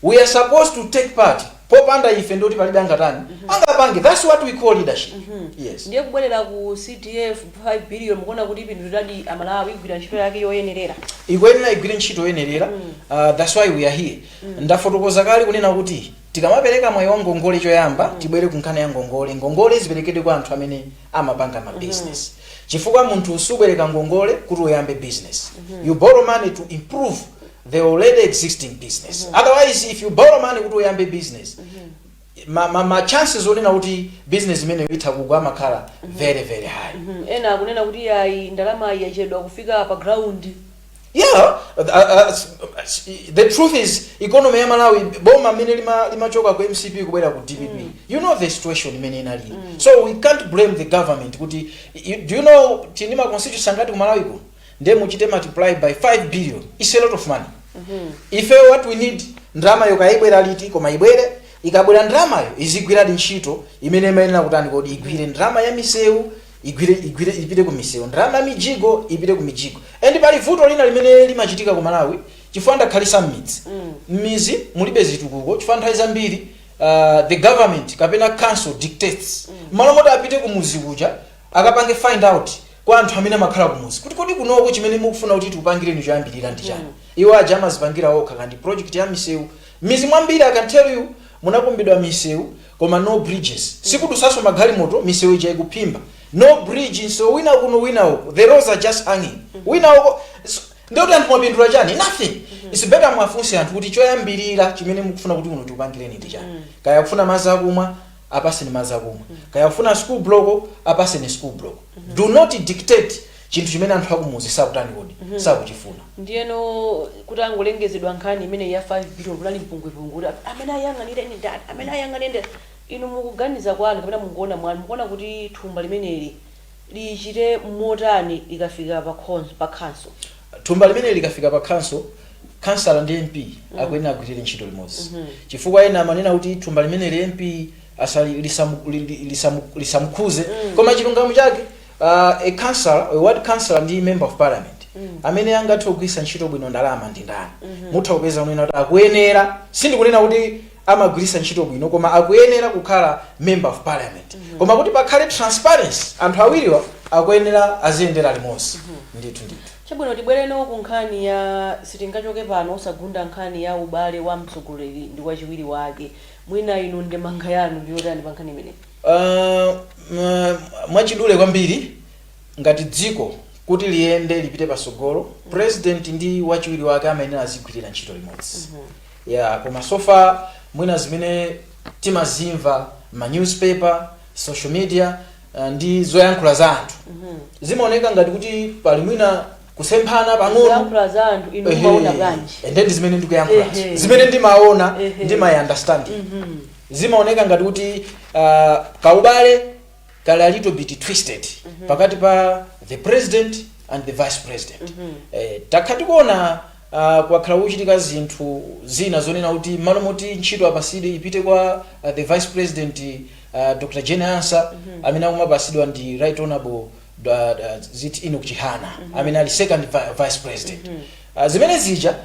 We are supposed to take part popanda ife ndiye kuti palibe angatani angapange that's what we call leadership yes. Ndiye kubwerera ku CDF 5 billion mukuona kuti ipinduliradi a Malawi igwira ntchito yake yoyenerera. ikuyenera igwire ntchito yoyenerera uh, that's why we are here ndafotokoza kale kunena kuti tikamapereka mwayi wa ngongole choyamba tibwere ku nkhani ya ngongole ngongole ziperekedwe kwa anthu amene amapanga ma business chifukwa munthu subwereka ngongole kuti uyambe business you borrow money to improve the already existing business otherwise if you borrow money kuti uyambe business ma, ma, ma chances onena kuti business imeneyo itha kugwa amakhala very very high Mhm, ena akunena kuti ayi ndalama iyi yachedwa kufika pa ground yeah uh, uh, s- s- the truth is economy ya malawi boma mmene lima- limachoka ku mcp kubwera ku dpp you know the situation imene inalili so we can't blame the government kuti you- do you know tili ndi ma constituency angati ku malawi kuno ndiye muchite multiply by 5 billion is a lot of money ife what we need ndalamayo kaya ibwera liti koma ibwere ikabwera ndalamayo izigwiradi ntchito imene imayenera kutani kodi igwire ndalama ya misewu igwire igwire ipite ku misewu ndalama ya mijigo ipite ku mijigo and pali vuto lina limene limachitika ku malawi chifukwa ndakhalitsa mmidzi mmizi mulibe zitukuko chifukwa nthawi zambiri uh, the government kapena council dictates mmalo moti apite ku muzi kuja akapange find out kwa anthu amene amakhala kumuzi kuti kodi kunoko chimene mukufuna kuti tikupangireni choyambirira ndi chani iwo aja amazipangira okha kandi project ya misewu mizi mwambiri i can tell you munakumbidwa misewu koma no bridges sikudutsanso magalimoto misewu ija ikuphimba no bridge msewu wina kuno wina uko the roads are just hanging wina uko so, ndiye kuti anthu mwapindula chani nothing it's better mwafunse anthu kuti choyambirira chimene mukufuna kuti kuno tikupangireni ndi chani kaya akufuna madzi akumwa apaseni madzi akumwa kaya akufuna school block apaseni school block do not dictate chinthu chimene anthu akumuzi sakutani kodi sakuchifuna ndiyeno itangolengezedwa nkhani imene ya 5 billion kunali mpungwepungwe kuti amene ayang'anire ndi ndani amene ayang'anire ndi ndani inu mukuganiza kwanu kapena mukuona mwanu mukuona kuti thumba limeneli lichite motani likafika pa khonsolo? Thumba limeneli likafika pa khonsolo, khansala ndi MP akuyenera agwirire ntchito limodzi chifukwa ena amanena kuti thumba limeneli MP asali, lisamu, li, li, lisamu, lisamukhuze koma chilungamo chake uh, a councillor, a ward councillor ndi member of parliament amene angathe kugwiritsa ntchito bwino ndalama ndi ndani mutha kupeza kunena kuti akuyenera sindikunena kuti amagwiritsa ntchito bwino koma akuyenera kukhala member of parliament mm -hmm. koma kuti pakhale transparency anthu awiriwa akuyenera aziyendera limodzi mm -hmm. ndithu ndithu chabwino tibwereno ku nkhani ya sitingachoke pano osagunda nkhani ya ubale wa mtsogoleri ndi wachiwiri wake mwina inu ndemanga yanu ndiyotani pa nkhani imeneyi uh, mwachidule kwambiri ngati dziko kuti liyende lipite pasogolo mm -hmm. president ndi wachiwiri wake amayenera azigwirira ntchito limodzi mm -hmm. Yeah, koma so far mwina zimene timazimva ma newspaper, social media uh, ndi zoyankhula za anthu. Zimaoneka ngati kuti pali mwina kusemphana pang'ono. kuyankhula za anthu inu Ehe. mumaona bwanji And then zimene ndikuyankhula. Ehe. Zimene ndimaona Ehe. ndi my understanding. zimaoneka ngati kuti uh, kaubale kali a little bit twisted pakati pa the president and the vice president eh, takhala tikuona uh, kwakhala kuchitika zinthu zina zonena kuti mmalo moti ntchito apasidwe ipite kwa uh, the vice president uh, dr jane ansah amene akumapasidwa ndi right honorable uh, uh, zit enoch chihana amene ali second vi- vice president uh, zimene zija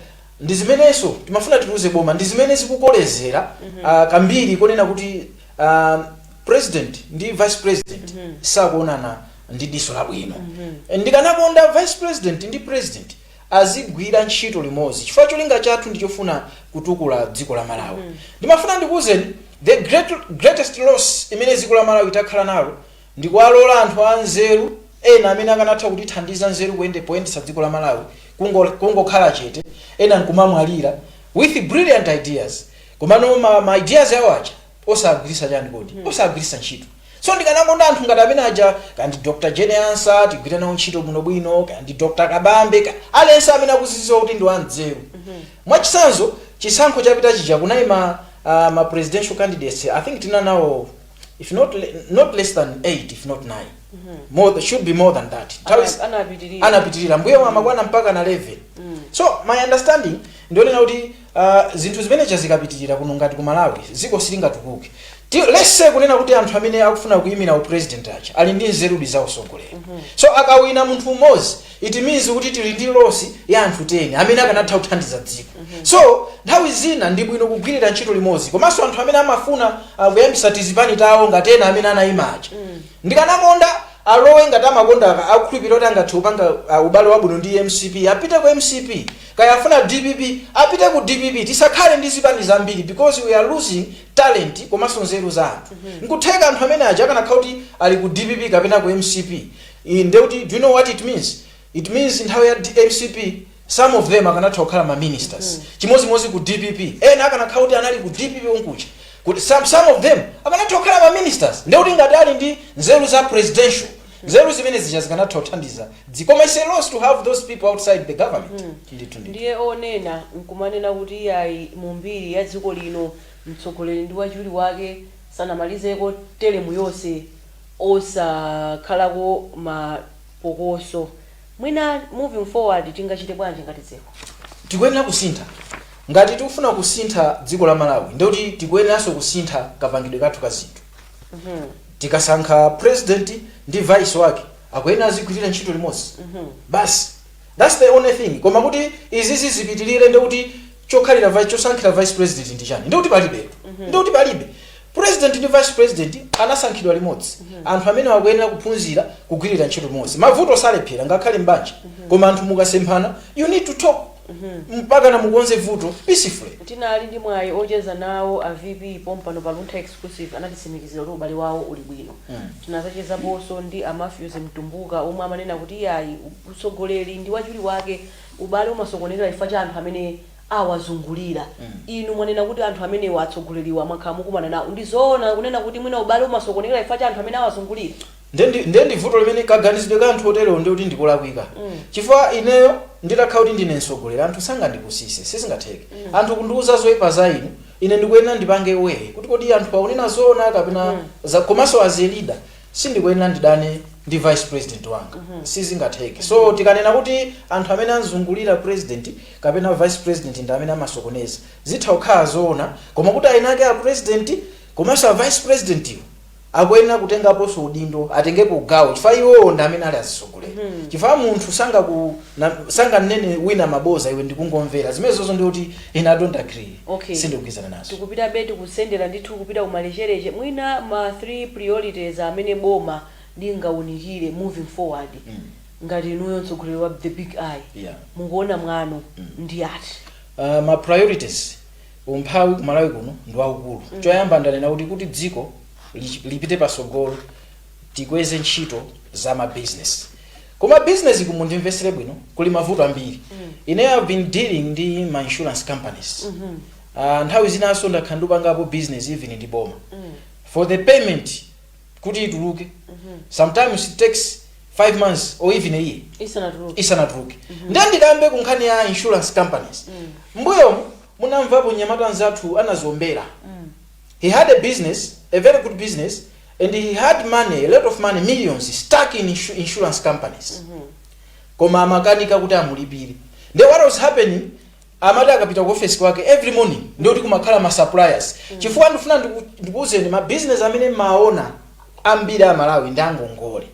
ndi zimenenso timafuna tiuze boma ndi zimene zikukolezera uh, kambiri konena kuti uh, President ndi vice president sakuonana ndi diso labwino. Ndikanakonda vice president ndi president azigwira ntchito limodzi chifukwa cholinga chathu ndi chofuna kutukula dziko la Malawi. Ndimafuna ndikuuzeni the great, greatest loss imene dziko la Malawi itakhala nalo ndikuwalola anthu anzeru ena amene akanatha kutithandiza nzeru kuyende poyendetsa dziko la Malawi kungo- kungokhala chete ena nkumamwalira with brilliant ideas komano ma, ma ideas awo aja osagwiritsa chani kodi mm. osagwiritsa ntchito so ndikanakonda anthu ngati amene aja kaya ndi dr jane ansah tigwire nawo ntchito bwinobwino kaya ndi dr kabambe ka- aliyense amene akuziziwa kuti ndi wanzeru mm-hmm. mwachitsanzo chisankho chapita chija kunayima, uh, ma presidential candidates i think tina nawo if not, le- not less than 8 if not 9 mm-hmm. more, should be more than that Nthawi- Ana- anapitirira. anapitirira mwina amakwana mpaka na 11 so my understanding ndi yonena kuti Uh, zinthu zimene zija zikapitirira kuno ngati ku malawi dziko silingatukuke Ti- let's say kunena kuti anthu amene akufuna kuyimira upresident aja ali ndi nzerudi za usogoleri so akawina munthu umodzi it means kuti tili ndi loss ya anthu 10 amene akanatha kuthandiza dziko so nthawi zina ndi bwino kugwirira ntchito limodzi komanso anthu amene amafuna uh, kuyambisa tizipani tawo ngati ena amene anayima aja ndikanakonda alowe ngati amakonda akukhulupirira kuti angathe kupanga uh, ubale wabwino ndi mcp apite ku mcp Kaya afuna dpp apite ku dpp tisakhale ndi zipani zambiri because we are losing talent komanso nzeru za anthu. Nkutheka anthu amene aja akanakhala kuti ali ku dpp kapena ku mcp nde kuti do you know what it means? It means nthawi ya mcp some of them akanatha kukhala ma ministers chimodzimodzi ku dpp ena akanakhala kuti anali ku dpp konkuja kuti some, some of them akanatha kukhala ma ministers nde kuti ngati ali ndi nzeru za presidential nzeru zimene zija zikanatha kuthandiza dziko koma its a loss to have those people outside the government ndithu ndithu ndiye onena nkumanena kuti iyayi mu mbiri ya dziko lino mtsogoleri ndi wachiwiri wake sanamalizeko telemu yonse osakhalako mapokoso mwina moving forward tingachite bwanji ngati dziko tikuyenera kusintha ngati tikufuna kusintha dziko la malawi ndikuti tikuyeneranso kusintha kapangidwe kathu ka zinthu tikasankha president ndi vice wake akuyenera azigwirira ntchito limodzi basi thats the only thing koma kuti izizi zipitirire ndi kuti chokhalira vice chosankhira vice president ndi chani ndi kuti palibe ndi kuti palibe president ndi vice president anasankhidwa limodzi anthu amene akuyenera kuphunzira kugwirira ntchito limodzi mavuto salephera ngakhale mbanja koma anthu mukasemphana you need to talk mpakana mukonze vuto peacefully. Tinali ndi mwayi ocheza nawo a VP pompano pa Luntha Exclusive anatitsimikizira kuti ubale wawo uli bwino. Tinazachezaponso ndi a Mathews Mtumbuka omwe amanena kuti iyayi mtsogoleri ndi wachiwiri wake ubale umasokonekera chifukwa cha anthu amene awazungulira. Inu mwanena kuti anthu amenewa atsogoleriwa mwakhala mukumana nawo ndi zoona kunena kuti mwina ubale umasokonekera chifukwa cha anthu amene awazungulira? Nde ndi, nde ndi vuto limene, kaganizidwe ka anthu oterewo nde kuti ndikolakwika. Chifukwa ineyo nditakhala kuti ndine mtsogoleri anthu sangandipusitse, sizingatheke. Anthu kundiuza zoipa za inu, ine ndikuyenera ndipange weigh kuti kodi anthuwa akunena zoona kapena za, komanso as a leader sindikuyenera ndidane ndi vice president wanga, sizingatheke. So tikanena kuti anthu amene anzungulira president kapena vice president ndi amene amasokoneza, zitha kukhala zoona koma kuti aeni ake a president komanso a vice presidentiwo, akuyenera kutengaponso udindo atengepo gawo chifukwa iwowo ndi amene ali azitsogoleri chifukwa munthu sangaku na- sanganene wina maboza iwe ndikungomvera zimenezozo ndi kuti ine i don't agree Okay. sindikugwirizana nazo tikupitabe tikusendera ndithu kupita kumalechereche mwina ma three priorities amene boma lingaunikire moving forward Mm. ngati inuyo mtsogoleri wa the big eye Yeah. mukuona mwanu ndi ati uh, ma priorities Umphawi ku Malawi kuno ndi waukulu. Choyamba ndanena kuti kuti dziko lipite patsogolo tikweze ntchito za ma business. Koma business ku mundimvesere bwino kuli mavuto ambiri. Ine I've been dealing ndi ma insurance companies. Mm -hmm. Uh, nthawi zinaso ndakhala ndikupangapo business even ndi boma. Mm. For the payment kuti ituluke sometimes it takes 5 months or even a year isanatuluke isanatuluke ndiye ndikambe ku nkhani ya insurance companies mbuyomu munamvapo mnyamata nzathu anazombera he had a business a very good business and he had money a lot of money millions stuck in insu- insurance companies koma amakanika kuti amulipire then what was happening amati akapita ku office kwake every morning ndikuti kumakhala ma suppliers chifukwa ndifuna ndiku- ndikuwuzeni ma business amene mumaona ambiri Amalawi ndi angongole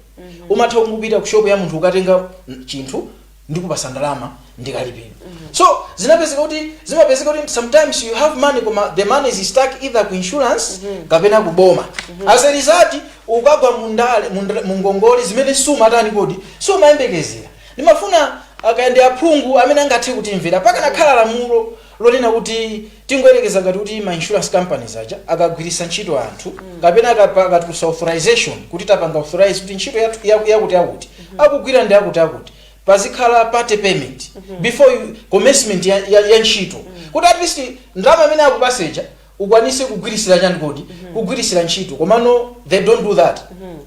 umatha kungopita ku shop ya munthu ukatenga mm, chinthu ndikupasa ndalama ndikalipira so zinapezeka kuti zimapezeka kuti sometimes you have money koma the money is stuck either ku insurance kapena ku boma as a result ukagwa mundale munda- mungongole zimene sumazitani kodi sumayembekezera Ndimafuna kaya ndi aphungu amene angathe kutimvera. Pakanakhala lamulo lonena kuti tingoyerekeza ngati kuti ma insurance companies aja akagwiritsa ntchito anthu kapena akatulutsa authorization kuti tapanga authorise kuti ntchito yakuti yakuti akugwira ndi akuti akuti pazikhala part payment before commencement ya ntchito kuti at least ndalama imene akupatsa ija ukwanise kugwiritsira chani kodi kugwiritsira ntchito komano they don't do that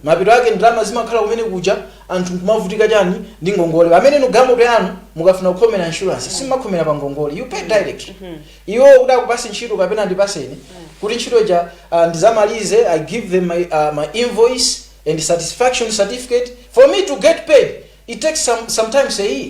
mapeto ake ndalama zimakhala kumene kuja anthu nkumavutika chani ndi ngongole pamene inu galimoto yanu mukafuna kukhomera insurance simumakhomera pa ngongole you pay direct iwo kuti akupase ntchito kapena ndipaseni kuti ntchito ija uh, ndizamalize i give them my, uh, my invoice and satisfaction certificate for me to get paid It takes sometimes a year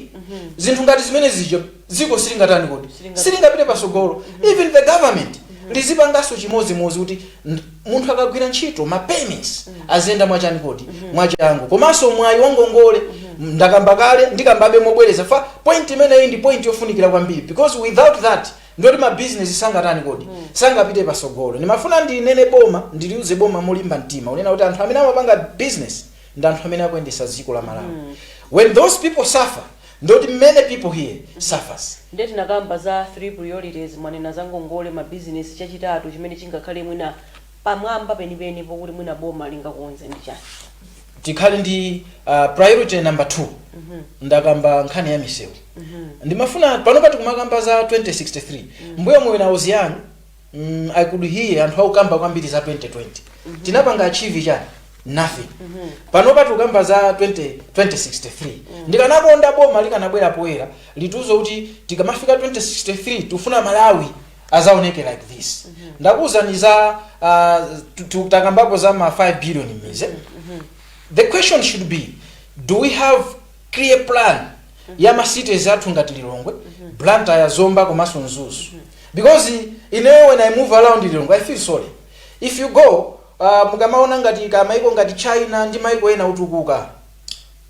zinthu ngati zimene zija dziko silingatani kodi Silingapite. silingapite pasogolo even the government lizipanganso chimodzimodzi kuti nd- munthu akagwira ntchito ma payments aziyenda mwachani kodi mwachangu komanso mwayi wangongole ndakamba kale ndikambabe mobwereza fa point imeneyi ndi point yofunikira kwambiri because without that ndoti ma business sangatani kodi sangapite pasogolo ndimafuna ndinene boma ndiliuze boma molimba mtima kunena kuti anthu amene amapanga business ndi anthu amene akuyendesa dziko la malawi mm. when those people suffer ndoti many people here mm -hmm. suffers nde tinakamba za three priorities mwanena za ngongole ma business chachitatu chimene chingakhale mwina pamwamba penipeni pokuti mwina boma lingakonze ndi chani tikhale ndi uh, priority number 2 mm -hmm. ndakamba nkhani ya misewu mm -hmm. ndimafuna pano pati kumakamba za 2063 mm -hmm. mbuyomu mwina muzi Muluzi mm, i could hear anthu akukamba kwambiri za 2020 tinapanga achieve chani nothing pano patikukamba za 20, 2063 ndikanakonda boma likanabwera poyera litiuze kuti tikamafika 2063 tifuna malawi azaoneke like this ndakuwuzani za uh, tu- tu- takambapo za ma 5 billion maize the question should be do we have clear plan ya ma cities athu ngati Lilongwe, Blantyre, Zomba komanso Mzuzu because ineyo when I move around Lilongwe I feel sorry if you go uh, mukamaona ngati ka maiko ngati China ndi maiko ena otukuka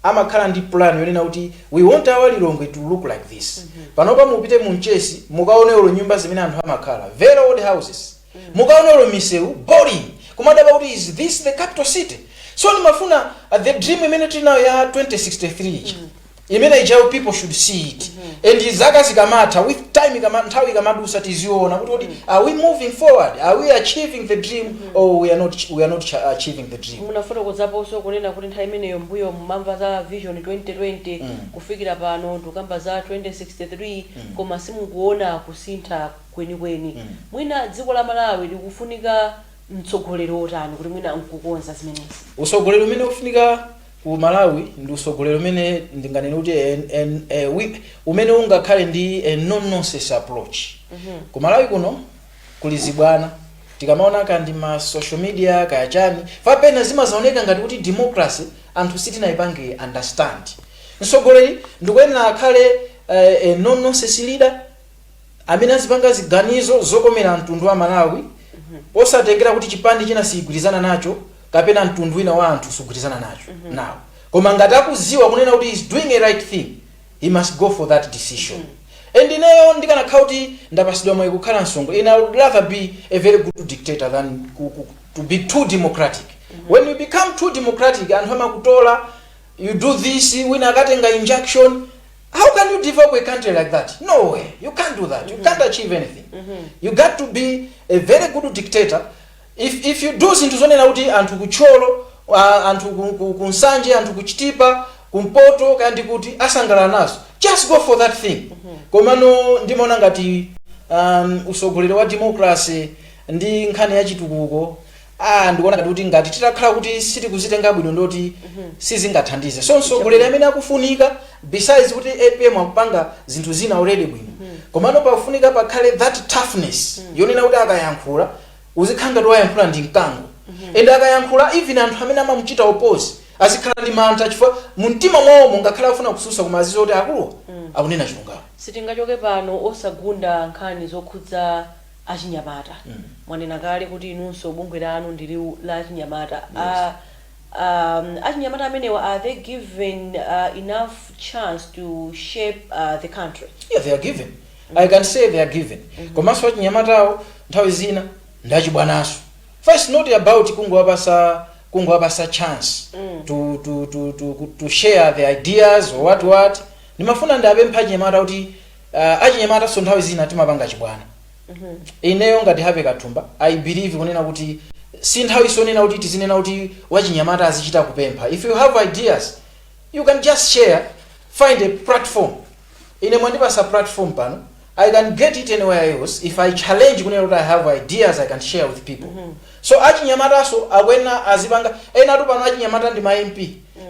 amakhala ndi plan yonena kuti we want our Lilongwe to look like this panopa mupite mu Mchesi mukaone olo nyumba zimene anthu amakhala very old houses mukaone olo misewu boring kumadabwa kuti is this the capital city so ndimafuna uh, the dream imene tili nayo ya 2063 ija imene ijayo people should see it and zaka zikamatha with time ikama, nthawi ikamadusa tiziona kuti kuti are we moving forward are we achieving the dream or we are not, we are not cha- achieving the dream munafotokozaponso kunena kuti nthawi imeneyo mbuyo mumamva za vision 2020 kufikira pano tikukamba za 2063 koma simukuona kusintha kwenikweni mwina dziko la Malawi likufunika mtsogoleri otani kuti mwina nkukonza zimenezi? Utsogoleri umene ukufunika ku Malawi ndi utsogoleri umene ndinganene kuti en, en, eh, wi- umene ungakhale ndi a no nonsense approach ku Malawi kuno kuli zibwana tikamaona kaya ndi ma social media kaya chani papena zimazaoneka ngati kuti democracy anthu sitinayipange understand mtsogoleri ndikuyenera akhale eh, a no nonsense leader amene azipanga ziganizo zokomera mtundu wa malawi posatengera kuti chipani china sichigwirizana nacho kapena mtundu wina wa anthu sugwirizana nacho nawo koma ngati akuziwa kunena kuti he's doing a right thing he must go for that decision and ineyo ndikanakhala kuti ndapasidwa mwayi kukhala msogoleri I would rather be a very good dictator than ku, ku, to be too democratic when you become too democratic anthu amakutola you do this wina akatenga injunction how can you develop a country like that no way you can't do that you can't achieve anything you got to be a very good dictator if, if you do zinthu zonena kuti anthu ku Thyolo uh, anthu ku- ku- ku Nsanje anthu ku Chitipa kumpoto kaya ndi kuti asangalala nazo just go for that thing komano ndimaona ngati um, usogoleri wa democracy ndi nkhani ya chitukuko ah ndikuona ngati kuti ngati titakhala kuti sitikuzitenga bwino ndoti sizingathandize so mtsogoleri amene akufunika besides kuti APM akupanga zinthu zina already bwino komano pakufunika pakhale that toughness yonena kuti akayankhula uzikhala ngati wayankhula ndi mkango and akayankhula even anthu amene amamuchita oppose azikhala ndi mantha chifukwa mu mtima mwawomo ngakhale afuna kususa koma aziziwa kuti akuluwa akunena chilungamo sitingachoke pano osagunda nkhani zokhudza achinyamata. Mwanena kale kuti inunso bungwe lanu ndi liwu la achinyamata. Yes. A, a, achinyamata amenewa are they given enough chance to shape the country? Yeah, they are given. Mm -hmm. I can say they are given. Mm -hmm. Komanso achinyamatawo nthawi zina ndi achibwanaso. It's not about kungowapasa kungowapasa chance mm. to, to, to, to, to share the ideas or what what. Ndimafuna ndiapemphe achinyamata kuti uh, achinyamatanso nthawi zina timapanga chibwana ineyo ngati Happy Kathumba i believe kunena kuti si nthawi sonena kuti tizinena kuti wachinyamata azichita kupempha if you have ideas you can just share find a platform ine mwandipasa platform pano i can get it anywhere else if i challenge kunena kuti i have ideas i can share with people so achinyamataso akuyenera azipanga enatu pano achinyamata ndi ma mp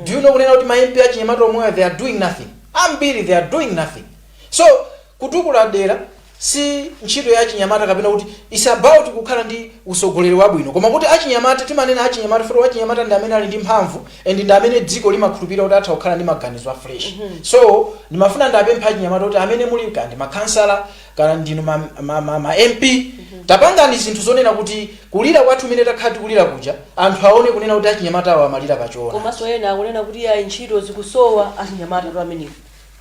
do you know kunena kuti ma mp achinyamata omwewa they are doing nothing Ambiri they are doing nothing. So kutukula dera si ntchito ya achinyamata kapena kuti it's about kukhala ndi usogoleri wabwino koma kuti achinyamata timanena achinyamata chifukwa wachinyamata ndi amene ali ndi mphamvu and ndi amene dziko limakhulupirira kuti atha kukhala ndi maganizo a fresh. So ndimafuna ndiapemphe achinyamata kuti amene muli kaya ndi makhansala kaya ndinu ma ma ma ma MP tapangani zinthu zonena kuti kulira kwathu kumene takhala tikulira kuja anthu aone kunena kuti achinyamata awa amalira pa choona komanso ena akunena kuti yayi ntchito zikusowa achinyamatatu amenewo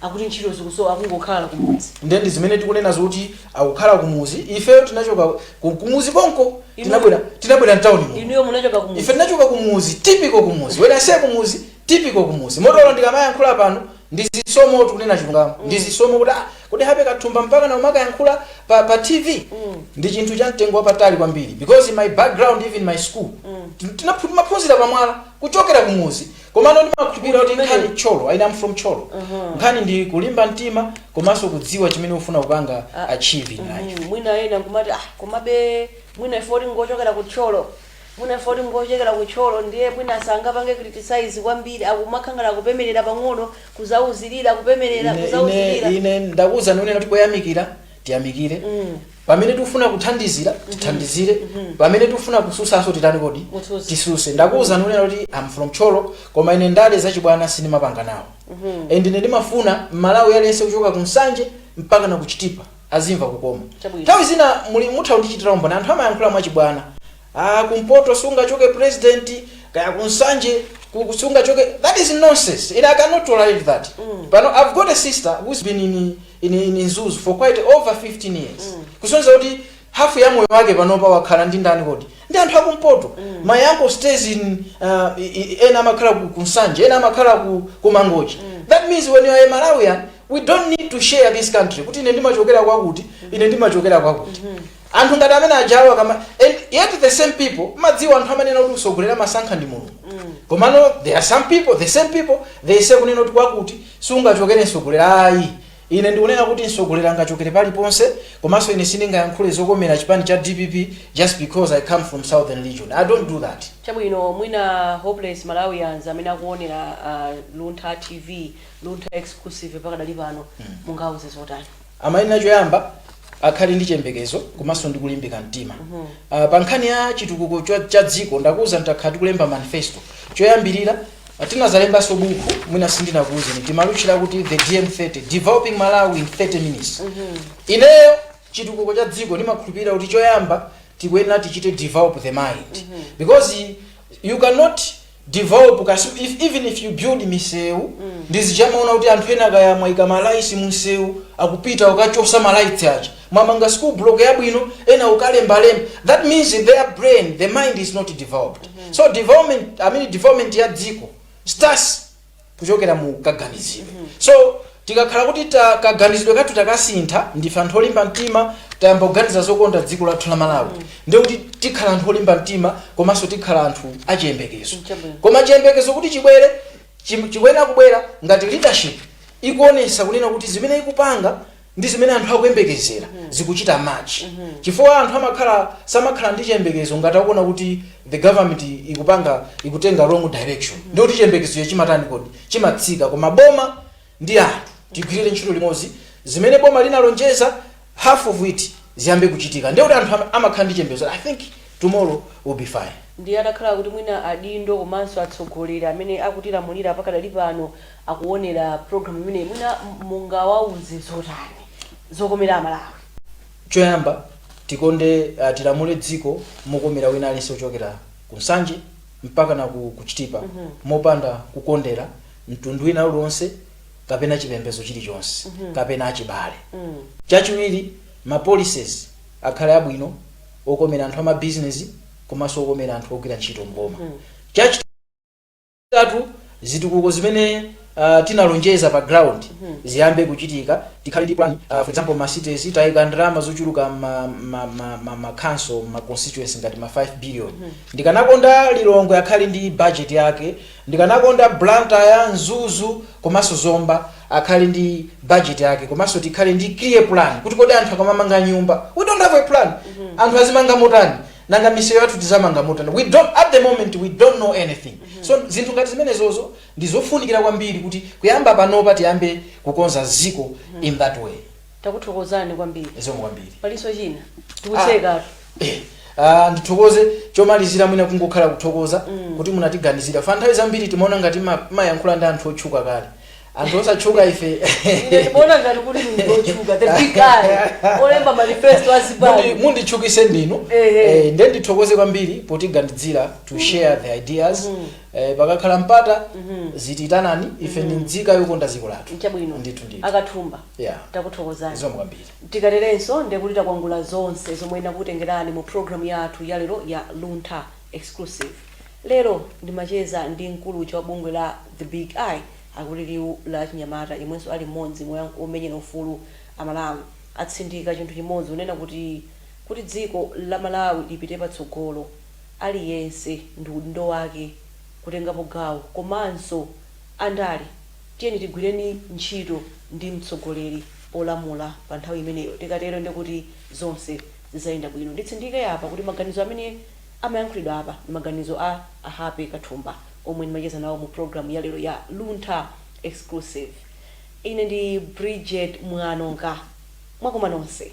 akuti ntchito zikusowa akungokhala kumudzi nde ndi zimene tikunena zoti akukhala kumuzi ifeyo tinachoka ku- kumuzi konko Inu- tinabwera tinabwera mtawuni muno inuyo munachoka kumudzi ife tinachoka kumuzi typical kumuzi when I say kumuzi typical kumuzi moti olo ndikamayankhula pano Ndi zisomotu kunena chilungamo ndi zisomo kuti ah kodi Happy Kathumba mpakana umakayankhula pa, pa tv ndi chinthu cha mtengo wapatali kwambiri because in my background even my school tin- tinaphu- timaphunzira pamwala kuchokera kumuzi komano ndimakhulupirira kuti nkhani Tcholo I I am from Tcholo nkhani ndi kulimba mtima komanso kudziwa chimene ufuna kupanga achieve in life Mm, mwina ena nkumati ah komabe mwina ife poti ngochokera ku Tcholo Mwina chifukwa kuti ngochokera ku Tcholo ndiye mwina sangapange criticize kwambiri akumakhala ngati akupemerera pang'ono, kuzauzilira, kupemerera, Ine, ine, kuzauzilira. ine ndakuwuzani kunena kuti poyamikira tiyamikire pamene tikufuna kuthandizira tithandizire pamene tikufuna kususanso titani kodi Mutsutse. tisuse ndakuwuzani kunena kuti am from Tcholo koma ine ndale zachibwana sindimapanga nawo and ine ndimafuna mmalawi aliyense kuchoka ku Nsanje mpakana ku Chitipa azimva kukoma. Chabwino. Nthawi zina muli mutha kundichitira umboni anthu amayankhula mwachibwana. Ah, kumpoto sungachoke president, kaya ku Nsanje ku- ku- sungachoke. That is nonsense. And I cannot tolerate that. Pano I've got a sister who's been in in, in Mzuzu for quite over 15 years. Kusonyeza kuti hafu ya moyo wake panopa wakhala ndi ndani kodi? ndi anthu akumpoto mm. my uncle stays in uh, ena amakhala ku, ku nsanje ena amakhala ku, ku mangochi mm. that means when you are a malawian we don't need to share this country kuti ine ndimachokera kwakuti ine ndimachokera kwakuti mm -hmm. anthu ngati amene ajawa akama and yet the same people mudziwa anthu amanena kuti utsogoleri amasankha ndi mulungu mm. komano there are some people the same people they say kunena kuti kwakuti sungachokere mtsogoleri ayi Ine ndikunena kuti mtsogoleri angachokere paliponse komanso ine sindingayankhule zokomera chipani cha dpp just because I come from southern region. I don't do that. Chabwino mwina Hopeless Malawians amene akuonera Luntha TV, Luntha Exclusive pakadali pano mungawauze zotani? Amayenera choyamba akhale ndi chiyembekezo komanso ndi kulimbika mtima. Ah, Pa nkhani ya chitukuko cha- cha dziko ndakuwuzani takhala tikulemba manifesto. Choyambirira Tinadzalembanso bukhu, mwina sindinakuuzeni, timalitchula kuti The DM30, Developing Malawi in 30 Minutes. Ineyo chitukuko cha dziko ndimakhulupirira kuti choyamba tikuyenera tichite develop the mind. Because you cannot develop kasi if, even if you build misewu ndi zija mumaona kuti anthu ena kaya mwaika malaitsi mumsewu akupita kukachotsa malaiti aja mwamanga school block yabwino ena kukalembalemba that means their brain the mind is not developed so development i mean development ya dziko starts kuchokera mu kaganizidwe so tikakhala kuti ta- kaganizidwe kathu takasintha ndife anthu olimba mtima tayamba kuganiza zokonda dziko lathu la malawi ndiye kuti tikhala anthu olimba mtima komanso tikhala anthu achiyembekezo Chabwino. koma chiyembekezo kuti chibwere chim- chikuyenera kubwera ngati leadership ikuonesa kunena kuti zimene ikupanga ndi zimene anthu akuyembekezera zikuchita match chifukwa anthu amakhala samakhala ndi chiyembekezo ngati akuona kuti the government ikupanga ikutenga wrong direction ndiye kuti chiyembekezo chimatani kodi chimatsika koma boma ndi anthu tigwirire ntchito limodzi zimene boma linalonjeza half of it ziyambe kuchitika ndiye kuti anthu ama- amakhala ndi chiyembekezo i think tomorrow will be fine ndi atakhala kuti mwina adindo komanso atsogoleri amene akutilamulira pakadali pano akuonera program imeneyi mwina mungawauze zotani zokomera amalawi? Choyamba tikonde uh, tilamule dziko mokomera wina aliyense kuchokera ku Nsanje mpaka na ku, ku Chitipa mm -hmm. mopanda kukondera mtundu wina uliwonse kapena chipembedzo chilichonse mm -hmm. kapena achibale mm -hmm. Chachiwiri ma policies akhale abwino okomera anthu ama business komanso okomera anthu ogwira ntchito mboma mm -hmm. Chachitatu, zitukuko zimene tinalonjeza pa ground ziyambe kuchitika, tikhale ndi plan, for example ma cities taika ndalama zochuluka mma council, mma constituency ngati ma 5 billion. Ndikanakonda Lilongwe akhale ndi budget yake, ndikanakonda Blantyre, Mzuzu komanso Zomba akhale ndi budget yake komanso tikhale ndi clear plan kuti kodi anthu akamamanga nyumba, we don't have a plan, anthu azimanga motani? nanga misewu yathu tizamanga motani we don't at the moment we don't know anything so zinthu ngati zimenezozo ndi zofunikira kwambiri kuti kuyamba panopa tiyambe kukonza ziko in that way takuthokozani kwambiri zikomo kwambiri palinso china tikutseka Eh, ah, ndithokoze chomalizira mwina kungokhala kuthokoza kuti munatiganizira ifa nthawi zambiri timaona ngati mmayankhula ndi anthu otchuka kale anthu osatchuka ife Ine ndimaona ngati kuti ndinu otchuka the big guy olemba manifesto Mundi- a zipani munditchukise ndinu Ehe. Eh, nde ndithokoze kwambiri potiganizira to share the ideas Eh, pakakhala mpata muzitiitana ife ndi nzika yokonda dziko lathu nchabwino ndithu ndithu a Kathumba Yeah. takuthokozani zikomo kwambiri tikaterenso ndekuti takwangula zonse zomwe nnakutengerani mu programu yathu ya lero ya luntha Exclusive lero ndimacheza ndi mkulu uja wa bungwe la The Big Eye akuti liwu la achinyamata yemwenso ali mmodzi mwa omenyera ufulu Amalawi atsindika chinthu chimodzi kunena kuti dziko la Malawi lipite patsogolo aliyense ndi udindo wake kutengapo gawo komanso andale tiyeni tigwireni ntchito ndi mtsogoleri olamula pa nthawi imeneyo tikatero ndekuti zonse zizayenda bwino. Nditsindike apa kuti maganizo amene amayankhulidwa apa ndi maganizo a a Happy Kathumba omwe ndimacheza nawo mu program ya lero ya Luntha Exclusive. Ine ndi Bridget Mwanonka. Mwakoma nonse.